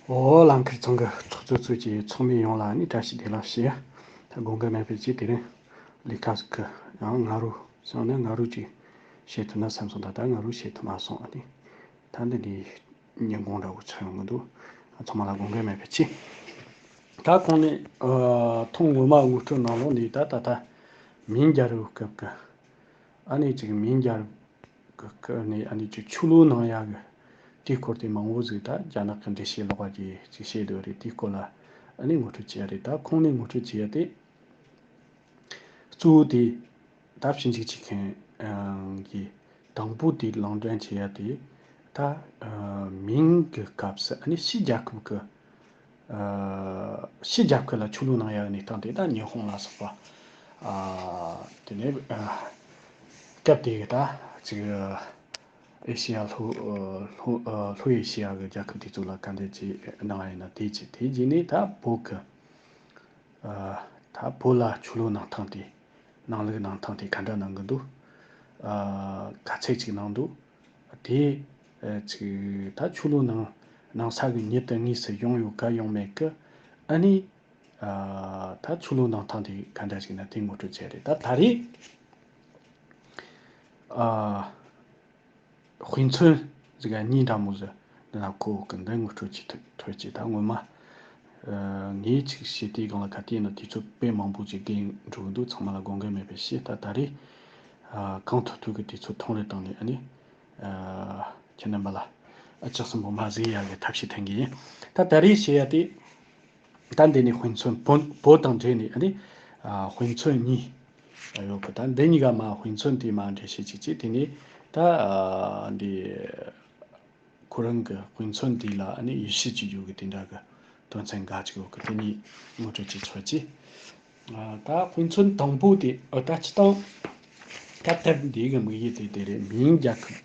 འོ་ལམ་ཁིར་ཚང་གི་ཚོགས་གཙོ་གཙོས་ཀྱི་ཚོགས་མི་ཡོངས་ལ་ནི་བཀྲ་ཤིས་བདེ་ལགས་ཞེས་དགོངས་འགལ་མེད་པའི་ཅི་དེ་རིང་ལི་ཁ་ཟིག་གིས་ཡང་ང་རོ་སང་ནི་ང་རོ་ཅིག་བཤད་ཐུབ་ན་སེམས་སོང་ད་ལྟ་ང་རོ་བཤད་ཐུབ་མ་སོང་ཨ་ནི་ད་འདི་འདྲའི་ཉིན་གུང་འདྲ་བོ་ཆགས་ཡོང་གི་འདུག་ཚང་མ་ལ་དགོངས་འགལ་མེད་པའི་ཅི། ད་ཁོང་ནི་ཐོང་ངོ་མ་དབུ་སྐྲུན་གནང་ལོང་ནི་ད་ད་ལྟ་མིང་རྒྱལ་རུ་སྐབས་ཀྱི་ཨ་ནི་ཅིག་མིང་རྒྱལ། གི་ཁུལ་ནས་ཨ་ནི་ཆུ་ལོའི་ནང་ཡ་གི་དེའི་སྐོར་དེ་མང་བོ་ཟིག་ད་རྒྱ་ནག་གི་འགྲེལ་བཤད་ལོག་པ་དེ་ཅིག་བཤད་སྡོད་རེད་དེའི་སྐོར་ལ་ཨ་ནི་ངོ་སྤྲོད་བྱེད་ཡ་རེད་ད་ཁོང་ནས་ངོ་སྤྲོད་བྱེད་ཡ་དེ་གཙོ་བོ་དེ་ད་ཕྱི་འཇིགས་བྱེད་མཁན་གི་དང་པོ་དེ་ལང་འདྲེན་བྱེད་ཡ་དེ་ད་མིང་གི་སྐབས་སུ་ཨ་ནི་ཕྱི་རྒྱལ་ཁབ་གི་ཕྱི་རྒྱབ་ཁུལ་ལ་ཆུ་ལུག་ནང་ཡར་གནས་སྟངས་དེ་དག་ཉི་ཧོང་ལ་སོགས་པ། དེ་ནས་སྐབས་དེའི་གདའ། ཅིག། ཨེ་ཤེ་ཡ་ལྷོ། ལྷོ་ཨེ་ཤེ་ཡ་གི་རྒྱལ་ཁབ་དེ་ཚོ་ལ་དཀའ་འགྲེལ་བྱས་གནང་བ་ཡིན་ན་དེ་གཅིག་དེའི་རྗེས་ནས་ད་བོད་ཀྱི། ད་བོད་ལ་ཆུ་ལུག་གནང་སྟངས་དེ། ནང་ལུག་གནང་སྟངས་དེ་ག་འདྲ་གནང་གི་འདུག། ག་ཚད་ཅིག་གནང་འདུག། དེའི་ཚིག། ད་ཆུ་ལོ་ནང་ནང་ས་གི་ཉིད་དུ་ངའི་སྲིད་སྐྱོང་ཡོད་ག་ཡོང་མེད་གི། ཨ་ནི། ད་ཆུ་ལོ་ནང་ཐང་དེ་ག་འདྲ་ཞིག་ན་དེ་ངོ་སྤྲོད་བྱས་རེད་ད་ད་རེས། དཔེ་མཚོན་ཟིག་ཨ་ཉིད་འདྲ་མོ་ཟིག་འདི་ན་ཁོ་བོ་གི་འདི་ངོ་སྤྲོད་བྱེད་ཐོས་ཅིག་ད་སྔོན་མ། ངའི་ཚིག་བཤད་དེའི་སྒང་ལ་ག་དེའི་ནང་དེ་ཚོ་དཔེ་མང་པོ་ཞིག་བརྒལ་འགྲོ་གི་འདུག་ཚང་མ་ལ་དགོངས་འགལ་མེད་པས་ཤེས་ད་ད་རེས། གང་ཐུག་ཐུག་གི་དེ་ཚོ་ཐོང་རེ་བཏང་ནས་ཨ་ནི། ཁྱེད་རྣམ་པ་ལ། ཨ་ཅག་གསོན་པོ་མ་བཟོས་ཡག་གི་ཐབས་ཤེས་ཐོན་གི་ཡིན། ད་ད་རེས་བྱེད་ཡ་དེ། ད་འདི་ནས་ཧུན་ཚོན་བོ་བོ་དང་འདྲེས་ནས་ཨ་ནི། ཧུན་ཚོན་གཉིས། ཡོད་གི་ད་འདི་གཉིས་ཀ་མ་ཧུན་ཚོན་དེ་མ་འདྲེས་བྱེད་ཅིག་ཅེས་དེ་ནས། ད། འདི། ཁོ་རང་གི་ཧུན་ཚོན་དེ་ལ་ཨ་ནི་ཡུས་ཤེས་ཅིག་ཡོད་གི་དེ་འདྲ་གི། དོན་ཚན་འགའ་ཅིག་ཡོད་གི་དེ་གཉིས་ངོ་སྤྲོད་ཅིག་བྱོས་ཅེས། ད་ཕན་ཚུན་དང་པོ་དེ་ཨི་ད་ཅི་དང། སྐབས་དེར་འདིའི་གི་དམིགས་ཡུལ་དེ་དེ་རེད་མིན་རྒྱ་ཁབ་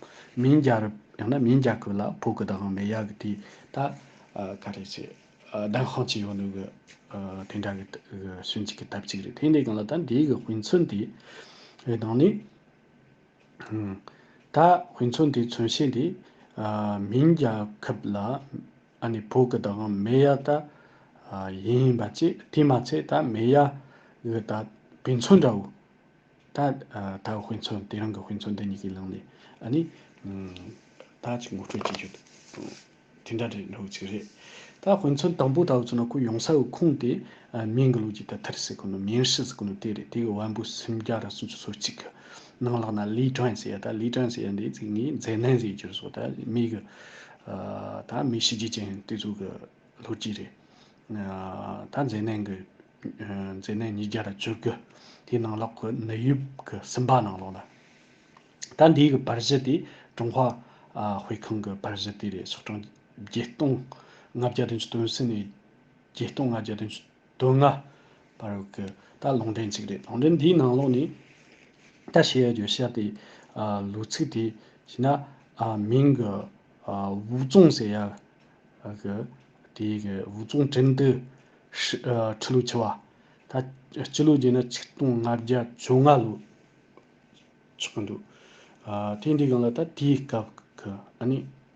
མིན་རྒྱ་རབ་ཡང་ན་མིན་རྒྱ་ཁོལ་ལ་ཕོ་གི་དང་མེ་ཡ་གི་དེ་ད་ག་རེ་ཚེ་ལྡང་ཤང་ཅི་ཡོང་ནུ་གི་དེ་འདྲ་གི་སུན་གཅིག་གི་ཐབས་ཅིག་རེད་དེ་འདྲའི་གང་ལ་ད་འདིའི་གི་ཕན་ཚུན་དེ་རེད་དང་ནི། ད་ཕན་ཚུན་དེ་མཚོན་བྱེད་འདི་མིན་རྒྱ་ཁབ་ལ། ཨ་ནི་བུ་གི་དང་མེ་ཡ་ད་ཡིན་ཡིན་པ་ཅི་དེས་མ་ཚད་ད་མེ་ཡ་གི་ད་བེ་མཚོན་འདྲ་བོ་ད་ད་བེ་མཚོན་དེ་རང་གི་བེ་མཚོན་འདི་གཉིས་ཀྱི་ལངས་ནས་ཨ་ནི་ད་ཅིག་ངོ་སྤྲོད་བྱེད་རྒྱུ་དེ་འདྲ་རེད་འགྲོ་གི་ཅིག་རེད་ད་བེ་མཚོན་དང་པོ་ད་བེ་མཚོན་ན་ཁོ་ཡོང་ས་གི་ཁུངས་དེ་མིང་གི་ལུགས་ཀྱི་ད་ཐར་ཟེར་གི་ནོ་མིན་ཧྲི་ཟེར་གི་ནོ་དེ་རེད་དེ་གི་བན་བོན་སུམ་བརྒྱ་ར་སུམ་ཅུ་སོ་གཅིག་གི་ནང་ལགས་ན་ལི་ཀྲན་ཟེར་ཡ་ད་ལི་ཀྲན་ཟེར་ཡ་འདི་ཚིག་ངས་མཛེས་ནན་ཟེར་གྱུར་སོ་ད་མིག་གི། ད་མི་གཤིས་རྒྱུ་ཅན་དེ་ཚོ་གི་ལྷུ་སྐྱིད་རེད། ད་མཛེས་ནད་འགོས་མཛེས་ནད་ཉིས་བརྒྱ་དང་བཅུ་དགུ་དེའི་ནང་ལོག་གི་ནད་ཡུབ་གི་སིམ་པ་ནང་ལོག་ལ། ད་འདིའི་གི་པར་གཞི་དེ་ཀྲུང་ཧྭ་དཔེ་ཁང་གི་པར་གཞི་དེ་རེད་ཟུར་གྲངས་བརྒྱད་སྟོང་ལྔ་བརྒྱ་དང་བཅུ་དོན་སི་ནས་བརྒྱད་སྟོང་ལྔ་བརྒྱ་དང་བཅུ་དོན་ལྔ། བར་བར་གྱི་ད་ལུང་འདྲེན་གཅིག་རེད། ལུང་འདྲེན་འདིའི་ནང་ལོགས་ནས། ད་བཤད་ཡོད་རྒྱུ་ཤར་ཏེ། ལུགས་ཚིག་དེ་བྱས་ན། མིང་གི། ཝུའུ་ཙུང་ཟེར་ཡ། གི། དེ་གི་ཝུའུ་ཙུང་འགྲེམས་སྟེ། ཁྲི་ལུགས་ཆེ་བ། ད། སྤྱི་ལུགས་བརྒྱད་ན་ཆིག་སྟོང་ལྔ་བརྒྱ་བཅོ་ལྔ་ལུགས། ཆགས་ཀྱི་འདུག། དེ་འདི་གང་ལ་ད་དེའི་སྐབས་ཀྱི་ཨ་ནི།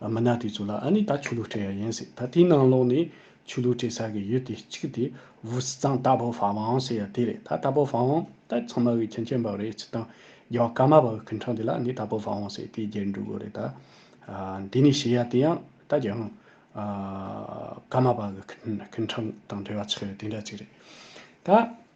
མི་ནག་དེ་ཚོ་ལ་ཨ་ནི་ད་ཆོས་ལུགས་སྤྲད་ཡ་ཡིན་ཟེར་ད་དེའི་ནང་ལོག་ནས་ཆོས་ལུགས་སྤྲད་ས་གི་ཡུལ་དེ་གཅིག་དེ་བུ་སི་ཙང་རྟ་པོ་ཧྥ་ཝང་ཟེར་ཡ་དེ་རེད་ད་རྟ་པོ་ཧྥ་ཝང་ད་ཚང་མ་བའི་ཁྱིམ་ཆེན་པ་རེད་ཚིག་དང་རྒྱ་བ་ཀ་མ་པ་བའི་ཁུལ་འཁྲང་དེ་ལ་ནི་རྟ་པོ་ཧྥ་ཝང་ཟེར་དེའི་རྒྱལ་འགྲུལ་དགོས་རེད་ད་དེ་ནས་བྱེད་ཡ་དེ་ཡང་ད་རྒྱ་བ་ཀ་མ་པ་གི་ཁུལ་འཁྲང་དང་འབྲེལ་བ་ཆགས་ཡ་དེ་འདྲ་ཅིག་རེད་ད།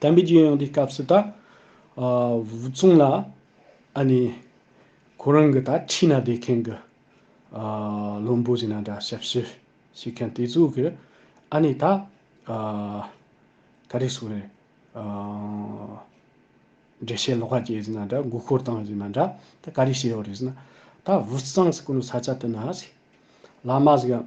བསྟན་པའི་རྒྱལ་ཡོངས་ཀྱི་སྐབས་སུ་ད་བུ་ཆུང་ལ་ཨ་ནི་ཁོ་རང་གི་ད་ཁྲིད་ན་བསྡད་མཁན་གྱི་བློན་པོ་ཞིག་ན་འདྲ་ཞབས་ཕྱི་བྱེད་མཁན་དེ་ཚོ་གི་ཨ་ནི་ད་ག་རེ་ཟུག་རེད་འགྲེལ་བཤད་ལོག་ཁ་རྒྱས་ཟིན་ན་འདྲ་མགོ་སྐོར་བཏང་ཟིན་ན་འདྲ་ད་ག་རེ་བྱེད་ཡོད་རེད་ཟེར་ན། ད་བུ་བཟང་ཟེར་ཀུ་ནུ་ས་ཆ་དེ་ན་བླ་མ་ཟེར་ཡང་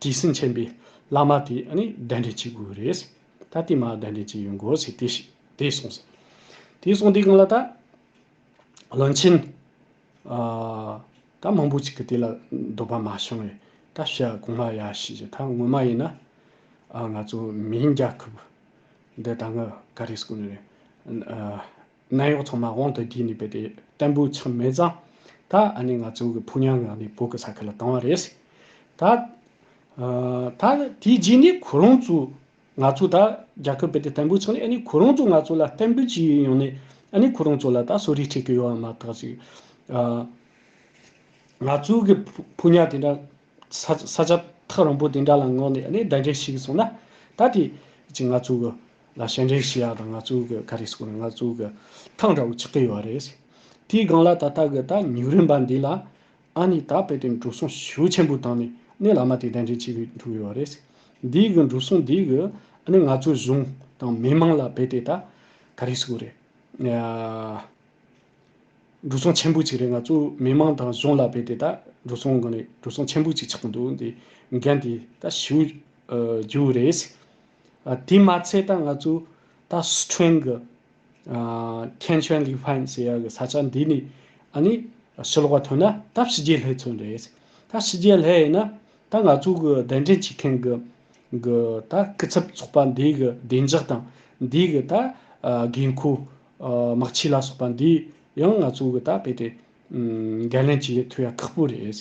དྲི་ཟིན་ཆེན་པོའི་བླ་མ་དེ་ནི་གདན་འདྲེན་བྱེད་དགོས་རེད། ད་དེ་མ་གདན་འདྲེན་བྱེད་ཡོང་དགོས་ཟེར་དེ་ཞིག་དེ་སོང་ཟེར། དེ་སོང་དེ་གང་ལ་ད། བློན་ཆེན། ད་མང་པོ་ཅིག་གིས་དེ་ལ་འདོད་པ་མ་བྱུང་བས་ད་བྱ་གོང་མ་ཡ་ཞིག་བྱས་ད་ངོ་མ་ཡིན་ན། ང་ཚོ་མིའི་རྒྱལ་ཁབ་འདི་ད་ང་ག་རེ་ཟེར་དགོས་ནི་རེད། ནད་གཡོག་ཚང་མ་དབང་དུ་བསྒྱུར་ནས་བོད་པའི་བསྟན་པོའི་མཚམས་མེད་བརྫངས། ད་ཨ་ནི་ང་ཚོའི་གི་ཕུགས་ཉམས་ངང་ནས་བོད་ཀྱི་ས་ཁུལ་ལ་བཏང་བ་རེད། ད། ད་དེའི་རྗེས་ནས་ཁོ་རང་ཚོ་ང་ཚོ་ད་རྒྱ་ཁབ་བོད་དོན་བསྟན་པོའི་ཚོགས་ནས་ཨ་ནི་ཁོ་རང་ཚོ་ང་ཚོ་ལ་བསྟན་པོའི་སྤྱི་ཡོན་ཡོང་ནས་ཨ་ནི་ཁོ་རང་ཚོ་ལ་ད་གསོ་རིག་འཁྲིད་ཀྱི་ཡོད་བ་མ་ཐག་ཅིག། ང་ཚོའི་གི་ཕུགས་ཕུགས་ཉམས་དེ་འདྲ། ས་ཆ་ཐག་རིང་པོ་དེ་འདྲ་ལ་ངོས་ནས་ནི་ཟླ་འདྲེ་ཞིག་གསུངས་ན་ད་དེ་ཅི་ང་ཚོ་གི་ལ་ཞལ་འདྲེ་ཞིག་ཡག་དང་ང་ཚོ་གི་ག་རེ་ཞིག་ང་ཚོ་གི་ཐང་འདྲ་བོ་ཆགས་ཀྱི་ཡོད་རེད། དེའི་སྒང་ལ་ད་ལྟ་གི་ད་ཉིག་རིམ་པ་འདི་ལ་ཨ་ནི་ད་དཔེ་དེ་འགྲོ་སོང་ཤུགས་ཆེན་པོ་བཏང་ནས་ནི་ལ་མ་དེ་ཟླ་འདྲེ་ཅིག་གིས་འགྲོ་གི་ཡོད་རེད། འདིའི་གི་འགྲོ་སོང་འདིའི་གི་ནི་ང་ཚོའི་གཞུང་དང་མི་མང་ལ་དཔེ་དེ་ད་ག་རེ་ཞིག་རེད། འགྲོ་སོང་ཆེན་པོ་གཅིག་རེད་ང་ཚོ་མི་དམངས་དང་གཞུང་ལ་བས་ཏེ་ད་འགྲོ་སོང་གང་རེད་འགྲོ་སོང་ཆེན་པོ་གཅིག་ཆགས་ཀྱི་འདུག་འདི་འགན་དེ་ད་ཞུ་རྒྱུ་རེད། དེ་མ་ཚད་ད་ང་ཚོ་ད་སི་ཁྲོན་གྱི་ཐེན་ཆོན་ལི་ཧྥན་ཟེར་ཡ་གྱི་ས་ཆ་འདི་ནས་ཨ་ནི་ཕྱི་ལོགས་པ་ཐོན་ན་ད་ཕྱི་རྒྱལ་ལྷས་ཚུན་རེད། ད་ཕྱི་རྒྱལ་ལྷས་ཡིན་ན་ད་ང་ཚོ་གི་གདན་འདྲེན་བྱེད་མཁན་གྱི་ད་སྐུ་ཚབ་ཚོགས་པ་འདི་གི་བདེ་འཇགས་དང་འདི་གི་ད་དགོས་མཁོ་དམག་ཆས་ལ་སོགས་པ་འདི་ཡང་ང་ཚོ་འགུལ་ལྟ་བས་ཏེ། འགན་ལེན་བྱེད་ལས་ཐོས་ཡ་ཁག་པོ་རེད།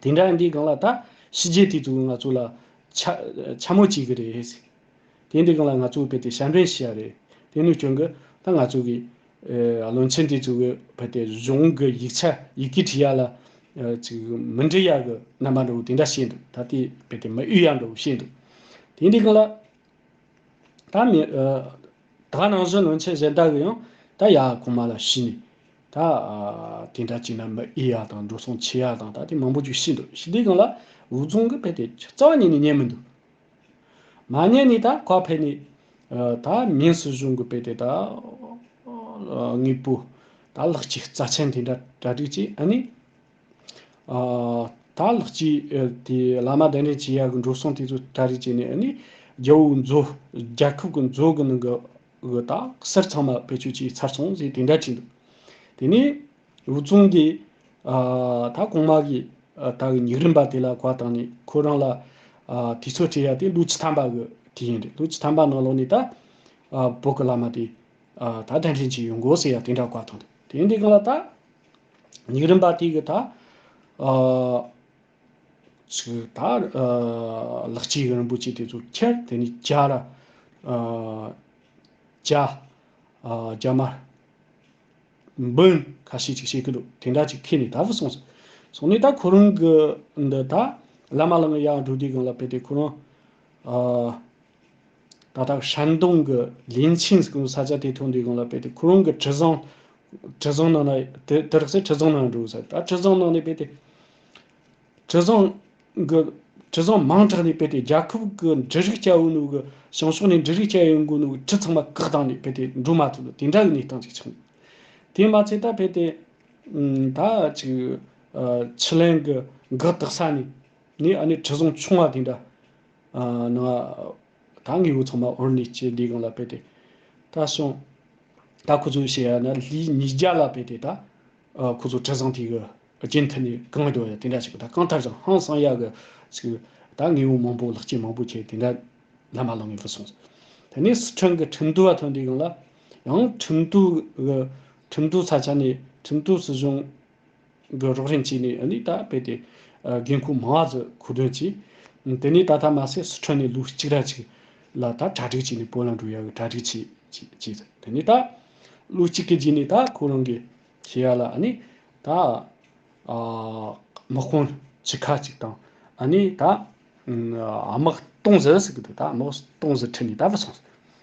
དེ་འདྲ་འདི་གང་ལ་ད་ཕྱི་རྒྱལ་དེ་ཚོ་ང་ཚོ་ལ་འཕྱ་མོ་བྱེད་གི་རེད། དེ་འདི་གང་ལ་ང་ཚོ་བས་ཏེ་ཞལ་འབེན་བྱེད་ཡ་རེད། དེ་ནུས་ཀྱང་གི་ད་ང་ཚོ་གི་བློན་ཆེན་དེ་ཚོ་བས་ཏེ་གཞུང་གི་ཡིག་ཆ་ཡི་གེ་བྲི་ཡ་ལ་ཅིག་མི་འབྲི་ཡ་གི་རྣམ་པ་འདྲ་བོ་དེ་འདྲ་བཤད་འདུག་ད་དེ་བས་ཏེ་མི་ཨུ་ཡ་འདྲ་བོ་བཤད་འདུག་དེ་འདི་གང་ལ། ད་མི། ད་ནང་བཞིན་ལོན་ཆེད་གཞན་དག་གིས་ཡང། ད་ཡ་གོང་མ་ལ་ཤི་ནས། ད། དེ་འདྲ་བྱས་ན་མི་ཨི་ཡ་དང་འགྲོ་སོང་ཆེ་ཡ་དང་ད་དེ་མང་པོ་ཅིག་ཤི་འདུག་ཤི་དེ་གང་ལ། འུ་ཚང་གི་ཕས་དེ་རྩ་བ་ཉིད་ནས་ཉན་མི་འདུག། མ་ཉན་ནས་ད་ཁ་ཕས་ནས། ད་མིན་སྲིད་གཞུང་གི་ཕས་དེ་ད། དངོས་པོ། ད་ལག་ཅིག་རྩ་ཆེན་དེ་འདྲ་གྲ་སྒྲིག་ཅིག་ཨ་ནི། ད་ལགས་ཀྱིས་དེ་བླ་མ་གདན་འདྲེན་བྱེད་ཡག་གི་འགྲོ་སོང་དེ་ཚོ་གྲ་རེ་བྱས་ནས་ནི་རྒྱ་བོའི་མཛོ། རྒྱལ་ཁབ་ཀྱི་མཛོ་གི་ནང་གི་དག་གསར་ཚང་མ་བེད་སྤྱོད་བྱས་ཚར་སོང་ཟེར་དེ་འདྲ་བྲིས་འདུག་དེ་ནས་བུ་ཆུང་དེས། ད་གོང་མ་གི་ད་གི་ཉིག་རིམ་པ་དེ་ལ་གོ་བ་དང་ནི་ཁོ་རང་ལ། དེ་ཚོ་བྲིས་ཡ་དེ་ལུག་ཁྱི་ཐམ་པ་གི་དེ་ཡིན་རེད་ལུག་ཁྱི་ཐམ་པ་ནང་ལོགས་ནས་ད། བོད་ཀྱི་བླ་མ་དེ། ད་གདན་འདྲེན་བྱས་ཡོང་དགོས་ཟེར་ཡ་དེ་འདྲ་གོ་བ་མཐོང་འདུག་དེ་འདི་གང་ལ་ད། ཉིག་རིམ་པ་དེ་གི་ད་ཆུ་ད་ལག་སྐྱེས་གི་རིན་པོ་ཆེ་དེ་ཚོ་ཁྱེར་དེ་ནས་བྱ་ར་བྱ་རྒྱ་མ་འབུན་ཁ་ཤས་ཅིག་བྱེད་ཀི་འདུག་དེ་འདྲ་ཅིག་ཁེལ་ནས་ད་བུ་སོང་ཟིག་སོང་ནས་ད་ཁོ་རང་གི་འདི་ད་བླ་མ་ལང་གི་ཡང་འགྲོ་དུས་གང་ལ་བལྟས་ཏེ་ཁོ་རང་ད་ལྟ་ཧྲན་ཏུང་གི་ལིན་ཆིན་སྐུའི་ས་ཆ་དེ་ཐོག་འདུས་སྒོ་ལ་སྤེལ་ཏེ་ཁོ་རང་གི་དྲི་བཟང། དྲི་བཟང་ནང་ན་དེ་དེར་ཚེ་དྲི་བཟང་ནང་འགྲོ་ས་ད་དྲི་བཟང་ནང་ནས་སྤེལ་ཏེ། དྲི་བཟང་གི་དྲི་བཟང་མང་དྲགས་ནས་སྤེལ་ཏེ་རྒྱལ་ཁབ་ཀྱི་འབྲུ་རིགས་སྐྱ་བོའི་ནང་གི་བྱང་ཕྱོགས་ནས་འབྲུ་རིགས་སྐྱ་ཡོའི་འགོ་ནང་གི་དྲི་ཚང་མ་བཀག་བཏང་ནས་སྤེལ་ཏེ་འགྲོ་མ་ཐུབ་ལ་དེ་འདྲ་གི་གནས་སྟངས་ཅིག་ཆགས་འདུག་དེས་མ་ཚད་ད་སྤེལ་ཏེ། ད་ཅིག་ཆི་ལེན་གྱི་འགག་རྟགས་ས་ནས་ནས་ཨ་ནི་དྲི་བཟང་ཆུང་བ་དེ་འདྲ། ནང་ལ་ད་ངེས་པོ་ཚང་མ་འོར་ནིས་ཀྱི་ལི་གང་ལ་བེད་དེ་ད་སོང། ད་ཁོ་ཚོས་བཤད་ཡ་ན་ལི་ཉིས་བརྒྱ་ལ་བེད་དེ་ད་ཁོ་ཚོ་དྲི་བཟང་དེ་གི་རྗེས་མཐུད་ནས་གང་གི་འགྲོ་ཡ་དེ་འདྲ་བྱེད་པ་ད་གང་ཐར་ཀྱང་ཧང་སང་ཡ་གི་ཚིག་གི་ད་ངེས་པོ་མང་པོ་ལག་ཁྱེར་མང་པོ་ཁྱེར་དེ་འདྲ་ལ་མ་ལང་ངེས་པོ་སོང་ཟེར་དེ་ནས་སི་ཁྲོན་གི་ཁྲིམས་དོད་བ་ཐོན་དེ་གང་ལ་ཡང་ཁྲིམས་དོད་གི་ཁྲིམས་དོད་ས་ཆ་ནས་ཁྲིམས་དོད་སྲིད་གཞུང། གི་རོགས་རེན་བྱས་ནས་ནི་ད་རྦད་དེ་རྒན་ཁུག་མང་བ་ཟི་ཁུག་དོན་ཅི། དེ་ནས་ད་ད་མ་སེ་སི་ཁྲོན་ནས་ལུག་གཅིག་ར་ཅིག་ལ་ད་གྲ་སྒྲིག་བྱས་ནས་བོད་ལ་འགྲོ་ཡག་གི་གྲ་སྒྲིག་བྱས་བྱས་ཟེར་དེ་ནས་ད། ལུག་གཅིག་གི་རྗེས་ནས་ད་ཁོ་རང་གི་ཤེས་ཡ་ལ་ནི་ད། དམག་དཔོན་བྱི་ཁ་ཅིག་དང་ནི་ད། དམག་སྟོང་ཟི་ཟེར་གི་འདུག་ད་དམག་སྟོང་ཟི་ཁྲིད་ནས་ད་བུད་སོང་ཟེར།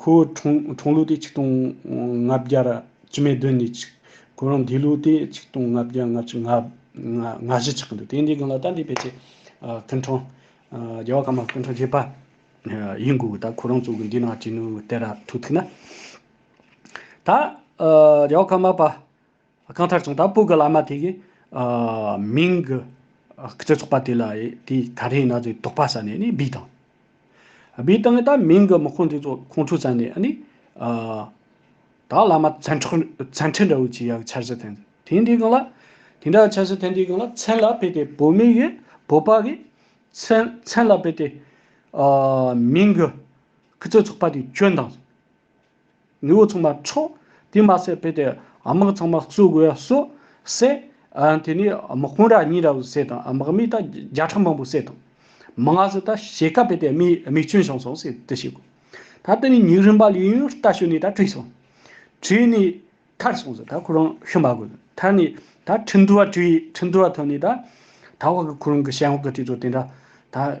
ཁོའི་འཁྲུངས་ལུགས་དེ་ཆིག་སྟོང་ལྔ་བརྒྱ་དཀྱིལ་མའི་དོན་གཉིས་ཆིག། ཁོ་རང་འདས་ལུགས་དེ་ཆིག་སྟོང་ལྔ་བརྒྱ་ལྔ་བཅུ་ལྔ་བཞི་ཆགས་ཀྱི་འདུག་དེ་འདི་གང་ལ་ད་འདི་ཕལ་ཆེར་སྐུ་འཁྲུངས། རྒྱལ་བ་ཀརྨ་པའི་སྐུ་འཁྲུངས་བཞི་པ་ཡིན་དགོས་ད་ཁོ་རང་གཙོ་གི་འདི་ནང་བྱེད་ནུས་དེ་ར་ཐུག་ཐུག་ན། ད་རྒྱལ་བ་ཀརྨ་པ། གང་ལྟར་བྱུང་ད་སྤུ་གི་བླ་མ་དེ་གི་མིང་གི་སྤྱི་ཚོགས་པ་དེ་ལ་དེ་ག་རེ་ཡིན་ན་ཚོད་དོག་པ་ཟ་ནས་ནི་སྦིས་དང། སྦིས་བཏང་ནས་ད་མིང་གི་དམག་ཁོང་དེ་ཚོ་ཁོང་ཁྲོ་ཟ་ནས་ནི། ད་བླ་མ་ཚན་ཁྲི་འདྲ་བོ་ཆེ་ཡག་ཆར་ཟི་ཐན་དེ་འདི་གང་ལ། དེ་འདྲ་ཆར་ཟི་ཐན་དེ་གང་ལ་ཚན་ལ་ཕེབས་ཏེ་བོད་མི་གི་བོད་པ་གི་ཚན་ལ་ཕེབས་ཏེ། མིང་གི་སྤྱི་ཚོགས་པ་དེ་སྐྱོན་དང། མི་བུ་ཚང་མ་འཕྲོག། དེ་མ་ཟད་བོད་དེ་དམག་ཚང་མ་བཙུགས་དགོས་སོགས་བསད། དེ་ནས་དམག་དཔོན་ར་གཉིས་ར་བཟི་བསད་དང་དམག་མི་དང་བརྒྱ་ཕྲག་མང་པོ་བསད་དང། མ་ང་ཟི་དང་ཞེ་ཁ་བོད་དེ་མིའི་མིག་ཆུ་བྱང་སོང་ཟེར་དུ་ཞིག་གོ། ད་དེ་ནས་ཉིག་རིམ་པ་ལས་ཡུན་རྟ་ཞོན་ནས་ད་བྲིས་སོང། བྲིས་ནས་ཐར་སོང་ཟེར་ད་ཁོ་རང་ཤི་མ་དགོས་ཟེར་ཐར་ནས་ད་ཁྲིན་ཏུ་བ་བྲིས་ཁྲིན་ཏུ་བ་ཐོན་ནས་ད་ད་བ་གི་ཁོ་རང་གི་ཞལ་འོག་གི་དེ་ཚོ་དེ་འདྲ་ད།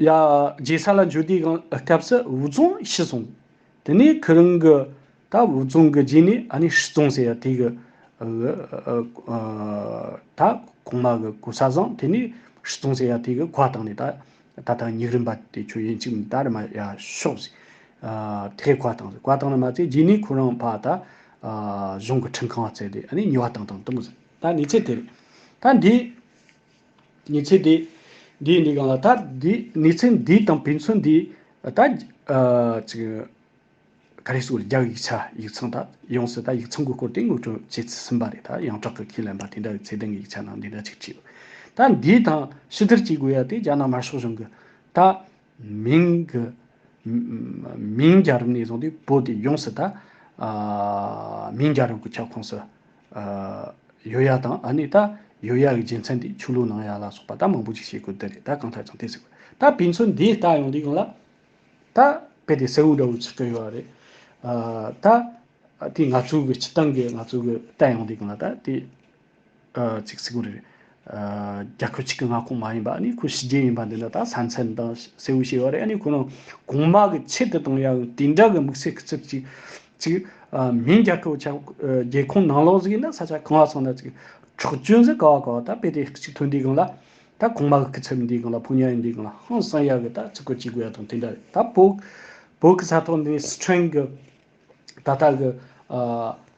རྗེ་ས་ལ་འབྱོར་དུས་གང་སྐབས་སུ་འུ་ཚོང་ཤི་སོང། དེ་ནས་ཁོ་རང་གི་ད་འུ་ཚོང་གི་རྗེས་ནས་ཨ་ནེ་ཧྲི་ཙོང་ཟེར་ཡ་དེ་གི་ད་གོང་མ་གི་གོ་ས་བཟང་དེ་ནས་ཧྲི་ཙོང་ཟེར་ཡ་དེ་གི་གོ་བ་བཏང་ནས་ད་ད་ལྟ་ཉིག་རིམ་པ་དེ་ཆོས་ཡན་ཅིག་མི་ད་རེ་མ་ཡ་ཤོག་ཟེར། དེ་གི་གོ་བ་བཏང་ཟེར་གོ་བ་བཏང་ནས་མ་ཚད་རྗེས་ནས་ཁོ་རང་ཕ་ད་གཞུང་གི་ཁྲིམས་ཁང་བརྩད་དེ་ཨ་ནེ་ཉོ་བ་བཏང་བཏང་བཏང་ཟེར་ད་ནི་ཚད་དེ་རེད། ད་འདི། ནུས་ཚད་དེ་འདིའི་ནུས་གང་ལ་ད་འདི་ནུས་ཚད་འདི་དང་བེད་མཚོན་འདི་ད་གཅིག་ག་རེ་སུ་ལ་རྒྱག་ཡིག་ཆ་ཡིག་ཚང་ད་ཡོང་ཟེར་ད་ཡིག་ཚང་གི་སྐོར་དེ་ངོས་སྤྲོད་བྱེད་ཟིན་པ་རེད་ད་ཡང་བྲག་གི་ཁས་ལེན་པ་དེ་འདྲ་བའི་ཚད་ལྡན་གྱི་ཡིག་ཆ་ནང་འདི་འདྲ་གཅིག་བྲིས་ཡོད་ད་འདི་དང་ཕྱི་དར་གཅིག་དགོས་ཡ་དེ་རྒྱ་ནག་དམར་ཤོག་གཞུང་གི་ད་མིང། མིང་རྒྱ་རུ་ནས་བཟུང་སྟེ་བོད་དེ་ཡོངས་སུ་དག། མིང་རྒྱ་རུ་གི་ཁྱབ་ཁོངས་སུ། ཡོད་ཡག་དང་ཨ་ནི་ད། ཡོད་ཡག་གི་རྒྱལ་མཚན་དེ་ཆོས་ལུགས་ནང་ཡག་ལ་སོགས་པ་ད་མང་པོ་ཅིག་བཤད་དགོས་དེ་རེད་ད་གང་ཐད་ཙང་དེ་ཟེར་དགོས་ད་བི་མཚོན་འདི་ལྟ་ཡོང་འདི་ཡོང་ལ། ད་དཔེ་དེ་སེའུ་འདྲ་བོ་ཆུ་སྤྲེལ་ཡོད་རེད། ད་དེ་ང་ཚོའི་གི་སྤྱི་བཏང་གི་ང་ཚོའི་གི་ལྟ་ཡོང་འདི་ཡོང་ལ་ད་དེ། ཚིག་ཚིག་གུ་རེ། རྒྱ་ཁྱོད་ཆིག་གི་མངའ་ཁོངས་མ་ཡིན་པ་ཨ་ནི་ཁོ་ཞི་རྒྱལ་ཡིན་པ་འདི་འདྲ་ད་ས་མཚན་དང་གསལ་བོ་ཤེས་བ་རེད་ཨ་ནི་ཁོ་རང་གོང་དམག་གི་ཆེད་དུ་དང་ཡང་དེ་འདྲ་གི་དམིགས་བསལ་གི་ཚིག་ཅིག་ཅིག་མིན་རྒྱ་ཁྱོད་ཆ་རྒྱལ་ཁོང་ནང་ལོགས་ཟིག་ཡིན་ན་ས་ཆ་གང་ལ་སོང་ན་ཅིག་འཁྲོག་བཅོས་ཟིག་ག་བ་ག་བ་ད་དཔེ་དེ་གཅིག་ཐོན་འདི་གང་ལ་ད་གོང་དམག་གི་ཚབ་འདི་གང་ལ་ཕོ་ཉར་ཡིན་འདི་གང་ལ་ཧང་སང་ཡག་གི་ད་ཚིག་གོ་ཅིག་གུ་ཡ་དང་དེ་འདྲ་རེད་ད་བོད་བོད་གི་ས་ཐོག་འདི་ནས་སི་ཁྲོན་གི་ད་ལྟ་གི།